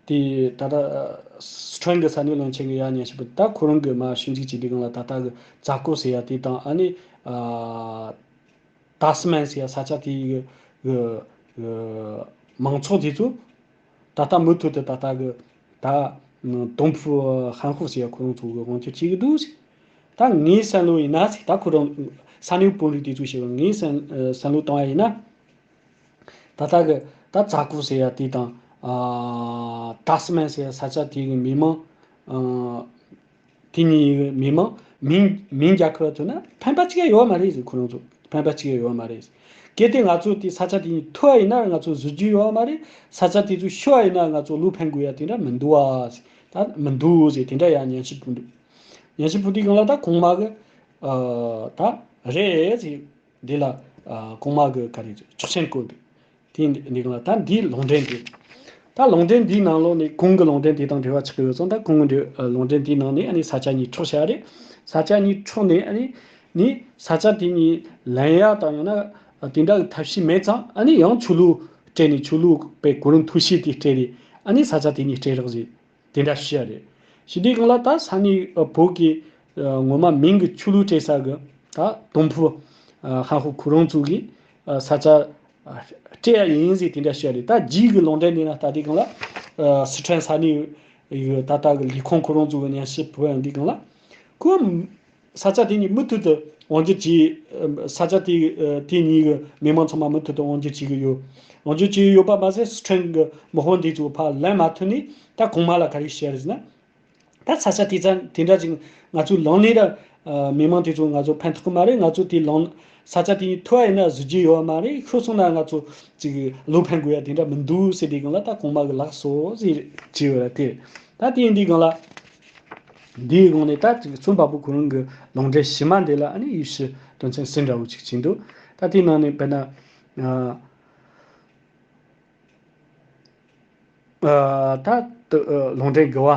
དེ་ད་ལྟ་སི་ཁྲོན་གྱི་ས་གནས་བློན་ཆེན་གྱི་གཡག་ཉན་ཞེས་པ་དེ་ད་ཁོ་རང་གི་མ་ཞུ་འཇུག་བྱས་པའི་སྒང་ལ་ད་ལྟ་གི་རྫ་སྐོར་ཟེར་ཡ་དེ་དང་ཨ་ནི་ད་སི་མན་ཟེར་ཡ་ས་ཆ་དེ་གི་མང་ཚོགས་དེ་ཚོ་ད་ལྟ་མུ་མཐུད་དུ་ད་ལྟ་གི་ད་ཏུང་ཕུའུ་ཧན་ཧོ་ཟེར་ཡ་ཁོ་རང་ཚོ་གི་དབང་ཆ་བྱེད་ཀྱི་འདུག་ཟེར། ད་ངའི་བསམ་བློ་ཡིན་ན་ཟེར་ད་ཁོ་རང་ས་གནས་དཔོན་རིགས་དེ་ཚོས་བཤད་པ་ངའི་བསམ་བློ་བཏང་བ་ཡིན་ན། ད་ལྟ་གི་ད་རྫ་ཁུག་ཟེར་ཡ་དེ་དང། ད་སི་མན་ཟེར་ས་ཆ་དེ་གི་མི་མང། དེ་གཉིས་ཡི་གི་མི་མང། མིང་མིང་རྒྱ་ཁུ་ར་ཐུ་ན་ཕན་པ་ཅི་ག་ཡོད་མ་རེད་ཟེར་ཁོ་རང་ཚོ་ཕན་པ་ཅི་ག་ཡོད་མ་རེད། གལ་ཏེ་ང་ཚོ་དེ་ས་ཆ་དེ་གཉིས་ཐུ་བ་ཡིན་ན་ང་ཚོ་བཟོ་རྒྱུ་ཡོད་མ་རེད། ས་ཆ་དེ་ཚོ་ཤི་བ་ཡིན་ན་ང་ཚོ་ལུག་ཕན་དགོས་ཡ་དེ་འདྲ་མི་འདུག་བ་ཟེར། ད་མི་འདུག་ཟེར་དེ་འདྲ་ཡ་ཉན་ཤི་འདུག། ཉན་ཤི་འདུག་དེ་གང་ལ་ད་གོང་མ་གི། ད་རེད་ཟེར། འདི་ལ་གོང་མ་གི་ག་རེ་རེད་ཆོག་མཆན་བཀོད་འདུག་དེ་འདི་གང་ལ་ད་འདིའི་ལུང་འདྲེན་དེ་ད་ལུང་འདྲེན་འདིའི་ནང་ལོགས་ནས་གོང་གི་ལུང་འདྲེན་དེ་དང་འབྲེལ་བ་ཆགས་ཀྱི་ཡོད་ཙང་ད་གོང་གི་ལུང་འདྲེན་དེའི་ནང་ནས་ཨ་ནི་ས་ཆ་གཉིས་འཕྲོག་བྱས་པ་རེད་ས་ཆ་གཉིས་འཕྲོག་ནས་ཨ་ནི་ནི་ས་ཆ་དེ་གཉིས་ལན་ཡག་དང་ཡང་ན་དེ་འདྲ་གི་ཐབས་ཤེས་མེད་ཙང་ཨ་ནི་ཡང་ཆོས་ལུགས་སྤྲད་ནས་ཆོས་ལུགས་པའི་གོ་རིམ་ཐུགས་བཞེད་དེ་སྤྲད་རེད་ཨ་ནི་ས་ཆ་དེ་གཉིས་སྤྲད་རོགས་ཞེས། དེ་འདྲ་ཤེས་ཡ་རེད། ཞི་བདེ་གང་ལ་ད་ས་ནི་བོད་ཀྱི། ངོ་མ་མིང་གི་ཆུ་ལུད་སྤྲད་ས་གི། ད་དུམ་བུ། ཧན་ཧུ་གུ་རོང་ཚུགས་གིས། ས་ཆ། སྤྲད་ཡ་ཡིན་ཟིག་དེ་འདྲ་ཤེས་ཡ་རེད་ད་རྗིས་གི་ལོང་འདྲེན་འདི་ན་ད་དེ་གང་ལ། སི་ཁྲོན་ས་ནི། ཡུ་ད་ད་གི་ལི་ཁོང་གུ་རོང་ཚུགས་གི་ནས་ཤི་བོད་ཡ་འདི་གང་ལ། ཁོ། ས་ཆ་དེ་ཉིད་མུ་མཐུད་དུ་དབང་བསྒྱུར་གྱིས། ས་ཆ་དེ་དེ་ཉིད་ཀྱི་མི་དམངས་ཚང་མ་མུ་མཐུད་དུ་དབང་བསྒྱུར་བྱེད་ཀྱི་ཡོད། དབང་བསྒྱུར་བྱེད་ཀྱི་ཡོད་པ་མ་ཟད་སི་ཁྲོན་གྱི་དམག་དཔུང་དེ་ཚོའི་ཕ་ལན་མ་ཐོན་ནས་ད་གོང་མ་ལ་ག་རེ་བྱས་རེད་ཟེར་ན། ད་ས་ཆ་དེ་ཚ་དེ་འདྲ་ཅིག་ང་ཚོས་ལངས་ནས་ད་མི་དམངས་དེ་ཚོ་ང་ཚོ་ཕན་ཐོགས་ཀྱི་མ་རེད་ང་ཚོ་དེ་ལངས་ས་ཆ་དེ་ཉིད་ཐུ་བ་ཡིན་ན་བཟོ་རྒྱུ་ཡོད་མ་རེད་ཤོད་སོང་ན་ང་ཚོ་ཅིག་བློ་ཕན་དགོས་ཡ་དེ་འདྲ་མི་འདུག་ཟེར་དེ་གང་ལ་ད་གོང་མ་གི་ལགས་སོ་ཟེར་བྱས་ཡོད་ར་དེ་ད་དེ་ཡིན་དེ་གང་ལ། འདིའི་དགོངས་ནས་ད་ཅིག་རྩོམ་པ་པོ་གོ་རིམ་གྱི་ལུང་འདྲེན་ཕྱི་མ་འདི་ལ་ནི་དབྱིབས་ཕྱི་དོན་མཚན་གསལ་འདྲ་བོ་ཅིག་བྱིན་འདུག་ད་དེའི་ནང་ནས་དཔེར་ན། ད་ལྟ་ལུང་འདྲེན་དགེ་བ།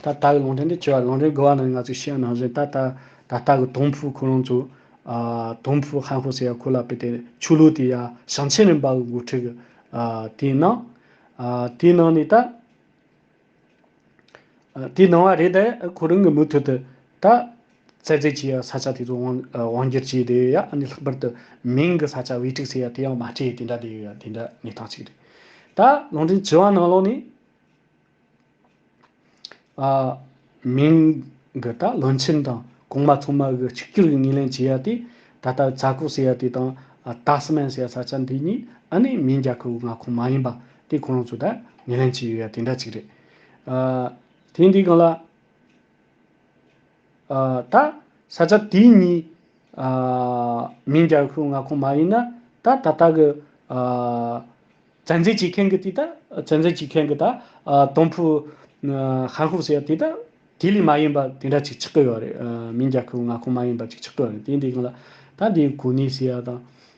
ད་ལྟ་གི་ལུང་འདྲེན་འདི་ཆེ་བ་ལུང་འདྲེན་དགེ་བ་ནང་ནས་ང་ཚོས་ཤེས་ནང་བཞིན་ད་ལྟ་ད་ལྟ་གི་དུང་ཕུག་ཁོ་རང་ཚོ། དུང་ཕུག་ཧན་ཧོ་ཟེར་ཡ་ཁོ་ལ་པེ་ཏེ་ཆོས་ལུགས་དེ་ཡ་ཞང་ཆེན་རིམ་པ་གི་འགོ་ཁྲིད་གི་དེའི་ནང། དེའི་ནང་ནས་ད། དེའི་ནང་བ་རེད་དེ། ཁོ་རང་གིས་མུ་མཐུད་དུ་ད། བཙལ་འཚོལ་བྱས་ཡ་ས་ཆ་དེ་ཚོ་དབང་བསྒྱུར་བྱས་ཏེ་ཡ་ལྷག་པར་དུ་མིང་གི་ས་ཆ་དབྱེ་ཁྲིགས་བྱས་ཡ་དེ་ཡང་མ་སྤྲད་དེ་འདྲ་དེ་ཡ་དེ་འདྲ་གནས་སྟངས་ཅིག་རེད། ད་ལུང་འདྲེན་བྱི་བ་ནང་ལོགས་ནས། མིང་གི་ད་ལུང་ཆེན་དང་གོང་མ་ཚང་མ་གི་ཆིག་གྱུར་གྱི་ངེས་ལེན་བྱས་ཡ་དེ། ད་ལྟ་བཙལ་ཁོག་བྱས་ཡ་དེ་དང། ད་སི་མན་བྱས་ཡ་ས་ཆ་འདི་གཉིས་ཨ་ནི་མིང་རྒྱ་ཁོའི་ང་ཁོངས་མ་ཡིན་པ། དེ་ཁོ་རང་ཚོ་དང་ངན་ལན་བྱས་ཡོད་ཡ་དེ་འདྲ་གཅིག་རེད། དེ་འདི་གང་ལ། ད་ས་ཆ་དེ་གཉིས། མིང་རྒྱག་ཤོག་ང་ཁོང་མ་ཡིན་ན་ད་ད་ལྟ་གི། བཙན་འཛུལ་བྱེད་མཁན་གྱི་དེ་ད་བཙན་འཛུལ་བྱེད་མཁན་གྱི་ད་དོམ་ཕུ། ཧན་ཧུག་ཟེར་ཡ་དེ་ད་དེ་ལས་མ་ཡིན་པ་དེ་འདྲ་གཅིག་ཆགས་ཀྱི་ཡོད་རེད། མིང་རྒྱག་ཤོག་ང་ཁོང་མ་ཡིན་པ་གཅིག་ཆགས་ཀྱི་ཡོད་རེད་དེ་འདི་གང་ལ། ད་འདི་གོ་ནི་ཟེར་ཡ་དང།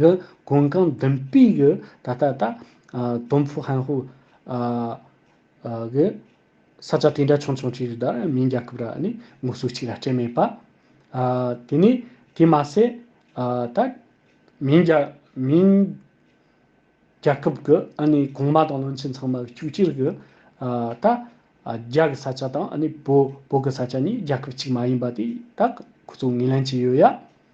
གི་གོང་གང་བདུན་སྤུས་ཀྱི་ད་ལྟ་ད། དོམ་ཕུ་ཧན་ཧུ། གི། ས་ཆ་དེ་འདྲ་ཆུང་ཆུང་གཅིག་ལྟར་མིང་རྒྱལ་ཁབ་ར་ནི་ངོ་སོ་གཅིག་ལ་སྤྲད་མེད་པ། དེ་ནི་དེ་མ་ཟད། ད། མིང་རྒྱ། མིང། རྒྱལ་ཁབ་གི་ཨ་ནི་གོང་མ་དང་བློན་ཆེན་ཚང་མ་བཅུ་གཅིག་གི། ད། རྒྱ་གི་ས་ཆ་དང་ཨ་ནི་བོད། བོད་གི་ས་ཆ་གཉིས་རྒྱལ་ཁབ་གཅིག་མ་ཡིན་པ་དེ་དག་ཁོ་ཚོ་ངོས་ལེན་གྱི་ཡོད་ཡ།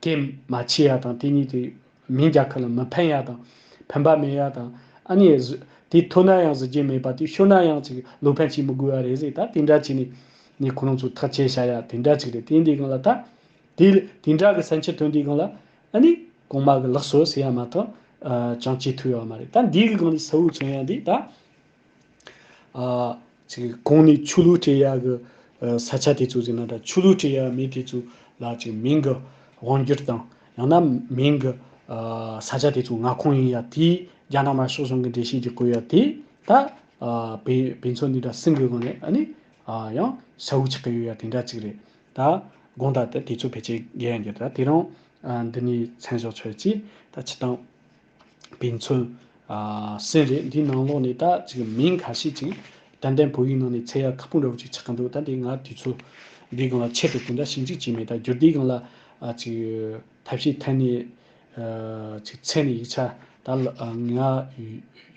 ཀྱེ་མ་འཆི་ཡ་དང་དེ་གཉིས་ཀྱི་མིང་རྒྱ་གར་ལ་མི་ཕན་ཡ་དང། ཕན་པ་མེད་ཡ་དང། ཨ་ནི། དེ་ཐོས་ན་ཡང་གཟི་བརྗིད་མེད་པ་དེ་ཤོད་ན་ཡང་ཅིག་ལོ་ཕན་བྱེད་མི་དགོས་ཡ་རེད་ཟེར་ད་དེ་འདྲ་བྱས་ནས། ནས་ཁོ་རང་ཚོ་ཐག་བཅད་བྱ་ཡ་དེ་འདྲ་ཅིག་རེད་དེ་འདི་གང་ལ་ད། དེ་དེ་འདྲ་གི་སེམས་ཆེ་དོན་འདི་གང་ལ། ཨ་ནི། གོང་མ་གི་ལགས་སོ་ཟེར་ཡ་མ་ཐག། ཅང་ཅི་ཐུག་ཡ་བ་མ་རེད་ད་འདི་གི་གང་ནས་ས་བོའི་ཚོན་ཡ་འདི་ད། ཚིག་གོང་ནས་ཆུ་ལུད་བྲེ་གཡག་གི་ས་ཆ་དེ་ཚོ་ཟིན་ན་འདྲ་ཆུ་ལུད་བྲེ་གཡག་མི་དེ་ཚོ་ལ་ཅིག་མིང་གི་དབང་བསྒྱུར་དང་ཡང་ན་མིང་གི་ས་ཆ་དེ་ཚོ་ང་ཁོངས་ཡིན་ཡ་དེས་རྒྱ་ནག་མ་ཤོག་ཟུང་གི་འགྲེལ་བཤད་ཀྱི་གོ་ཡ་དེ་ད་བེ་བེ་ཚོ་འདི་འདྲ་སིང་གི་གོ་ནས་ཨ་ནི་ཡང་ས་བོའུ་ཆགས་ཀྱི་ཡོད་ཡ་དེ་འདྲ་ཅིག་རེད་ད་དགོངས་དག་དེ་དེ་ཚོ་ཕལ་ཆེར་རྒྱལ་ཡ་འགྱུར་ད་དེ་རང་འདི་ནས་མཚན་བཞག་ཆོག་ཅེས་ད་ཕྱི་དང། པའི་མཚོན། སེམས་རེད་འདིའི་ནང་ལོགས་ནས་ད་ཅིག་མིང་ཁ་ཤས་ཅིག་དན་དན་བོད་ཡིག་ནང་ནས་ཚད་ཡག་ཁ་སྤུངས་ར་བོ་ཅིག་ཆགས་ཀྱི་འདུག་ད་དེ་ང་དུས་ཚོད་འདིའི་སྒང་ལ་ཆེད་དུ་དེ་འདྲ་ཞིབ་འཇུག་བྱས་མེད་ད་བསྒྱུར་དེའི་སྒང་ལ་ཅིག་ཐབས་ཤེས་ཐད་ནས་ཅིག་ཚད་ནས་ཡིག་ཆ་ད་ང་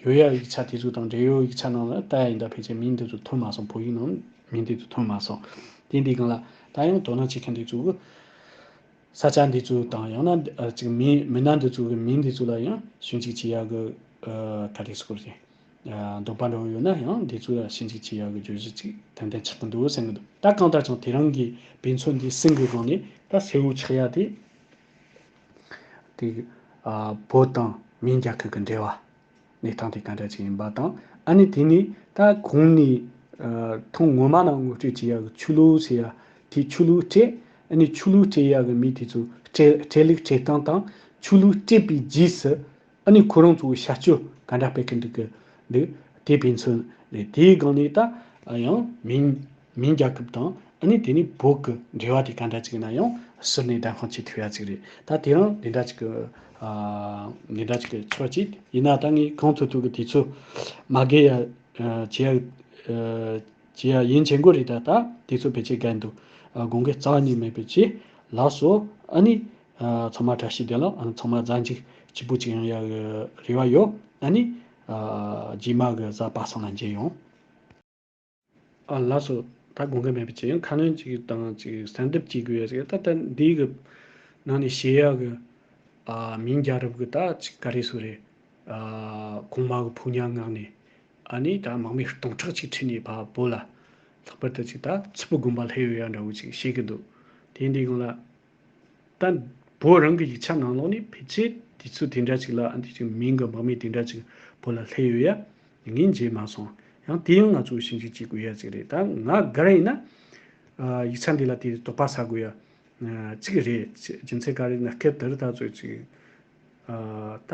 ཡོད་ཡག་ཡིག་ཆ་དེ་ཚོ་དང་འབྲེལ་ཡོད་ཡིག་ཆ་ནང་ལ་ལྟ་ཡ་ཡིན་ད་ཕལ་ཆེར་མིང་འདི་ཚོ་ཐོན་མ་སོང་བོད་ཡིག་ནང་མིང་འདི་ཚོ་ཐོན་མ་སོང་དེ་འདིའི་སྒང་ལ་ད་ཡང་དོ་སྣང་བྱེད་མཁན་དེ་ཚོ་གུ། ས་ཆ་འདི་ཚོའི་དང་ཡང་ན་ཅིག་མི་མི་སྣ་འདི་ཚོའི་མིང་འདི་ཚོ་ལ་ཡང་ཞིབ་འཇུག་བྱེད་ཡག་གི་ད་རེས་སྐོར་ཞིག་འདོགས་པ་འདྲ་བོ་ཡོད་ན་ཡང་འདི་ཚོ་ལ་ཞིབ་འཇུག་བྱེད་ཡག་གི་བརྗོད་གཞི་ཅིག་ཏན་ཏན་ཆགས་ཀྱི་འདུག་བསམ་གྱི་འདུག་ད་གང་ལྟར་ཀྱང་དེ་རང་གི་བེད་མཚོན་འདི་སྲིང་གི་སྒང་ནས་ད་སེའུ་ཆགས་ཡག་དེ། དེ་བོད་དང་མིང་རྒྱ་ཁུལ་གྱི་འབྲེལ་བ། གནས་སྟངས་དེ་ག་འདྲ་ཅིག་ཡིན་པ་དང། ཨ་ནི་དེ་ནི་ད་གོང་ནས་ཐོང་ངོ་མ་ནང་ངོ་སྤྲོད་བྱེད་ཡག་གི་ཆོས་ལུགས་ཟེར་ཡ་དེ་ཆོས་ལུགས་སྤྲད་ཨ་ནི་ཆོས་ལུགས་སྤྲད་ཡག་གི་མི་དེ་ཚོ་སྤྲད་ལེགས་སྤྲད་སྟངས་དང་ཆོས་ལུགས་སྤྲད་པའི་རྗེས་སུ་ཨ་ནི་ཁོ་རང་ཚོའི་བྱ་སྤྱོད་ག་འདྲ་སྤེལ་གི་འདུག་གི་འདུག་དེ་ཕན་ཚུན་རེད་དེའི་སྒང་ནས་ད་ཡང་མིན། མིན་རྒྱ་ཁབ་དང་ཨ་ནི་དེ་ནི་བོད་ཀྱི་འབྲེལ་བ་དེ་ག་འདྲ་ཅིག་ཡིན་ན་ཡང་ཟུར་ནས་བདམས་ཁང་བྱེད་ཐུབ་ཡ་ཅིག་རེད་ད་དེ་རང་དེ་འདྲ་ཅིག་གི་དེ་འདྲ་ཅིག་གི་ཚོད་ཅིག་ཡིན་ན་ད་ངས་གང་ཐུབ་ཐུབ་ཀྱི་དེ་ཚོ་མ་དགེ་ཡ་བྱེད་ཡ་བྱེད་ཡ་ཡིན་བྱེད་འགོ་རེད་ད་ད་དེ་ཚོ་བེད་སྤྱད་དགའ་འདུག་དགོངས་ཀྱི་རྩ་ཉིད་མེད་པའི་ཆེད་ལགས་སོ་ཨ་ནི་ཚང་མ་བཀྲ་ཤིས་བདེ་ལགས་ཚང་མ་གཟའ་འཇིགས་སྐྱིད་པོ་ཅིག་ཡོང་ཡ་གི་རེ་བ་ཡོད་ཨ་ནི་རྗེས་མ་གི་གཟའ་པ་སང་ལ་མཇལ་ཡོང། ཨ་ལགས་སོ། ད་དགོངས་ཀ་མེད་པ་ཅིག་ཡང་ཁ་སྣོན་ཅིག་དང་ཅིག་གསལ་འདེབས་ཅིག་དགོས་ཡས་ད་ལྟ་འདིའི་གི་ནང་ནས་བཤད་ཡག་གི། ཨ་མིང་རྒྱ་རབ་གི་ད་ཅིག་ག་རེ་སུ་རེད། ཨ་གོང་མ་གི་ཕུག་ཉག་ངག་ནས་ཨ་ནི་ད་མག་མི་སྟོང་ཕྲག་ཅིག་ཁྲིད་ནས་ཕ་བོ་ལ། ལྷག་པར་ད་ཅིག་ད་ཚིལ་བུ་དགོན་པ་ལྷའི་ཡོ་ཡ་འདྲ་བོ་ཅིག་བཤད་གི་འདུག་དེ་འདི་གང་ལ། དང་པོ་རང་གི་ཡིག་ཆ་ནང་ལོགས་ནས་ཕལ་ཆེར་དུས་ཚོད་དེ་འདྲ་ཅིག་ལ་ཨ་འདི་ཅིག་མིང་གི་འབངས་མི་དེ་འདྲ་ཅིག་བོད་ལ་སླེབས་ཡོད་ཡ། ངས་མཇལ་མ་སོང། ཡང་དེ་ཡང་ང་ཚོ་ཞིབ་འཇུག་བྱེད་དགོས་ཡ་ཅིག་རེད་ད་ང་དགའ་ར་ཡིན་ན། ཡིག་ཆ་འདི་ལ་དེ་རིགས་དོགས་པ་ཟ་དགོས་ཡ། ཅིག་རེད། རྒྱུ་མཚན་ག་རེ་ཡིན་ན་སྐབས་དེར་ད་གཟོད་ཅིག། ད།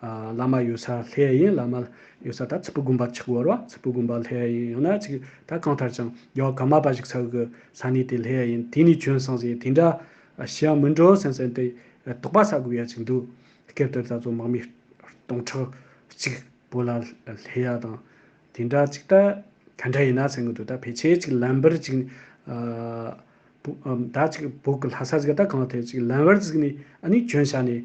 བླ་མ་ཡོད་སར་ལྷའི་ཡིན་བླ་མ་ཡོད་སར་ད་ཚིག་པོ་དགོན་པ་གཅིག་བོར་བ་ཚིག་པོ་དགོན་པ་ལྷའི་ཡིན་ཡང་ན་ཅིག་ད་གང་ཐར་ཀྱང་ཡོད་ག་མ་པ་ཞིག་ཚར་གི་ས་གནས་དེ་ལྷའི་ཡིན་དེ་ནས་བྱོན་སོང་ཟེར་དེ་འདྲ་ཞི་ཡང་མི་འགྲོ་སེམས་སེམས་ཏེ་དོགས་པ་ཟ་དགོས་ཡ་ཅིག་འདུག་སྐབས་དེར་ད་ཚོ་དམག་མི་སྟོང་ཕྲག་གཅིག་བོ་ལ་ལྷའི་ཡ་དང་དེ་འདྲ་ཅིག་ད་ག་འདྲ་ཡིན་ན་ཟེར་གི་འདུག་ད་ཕལ་ཆེར་ཅིག་ལམ་བར་ཅིག་ནས་ད་ཅིག་བོད་ཀྱི་ལྷ་ས་ཟིག་ད་གང་ཐད་ཅིག་ལམ་བར་ཟིག་ནས་ཨ་ནི་བྱོན་ཤག་ནས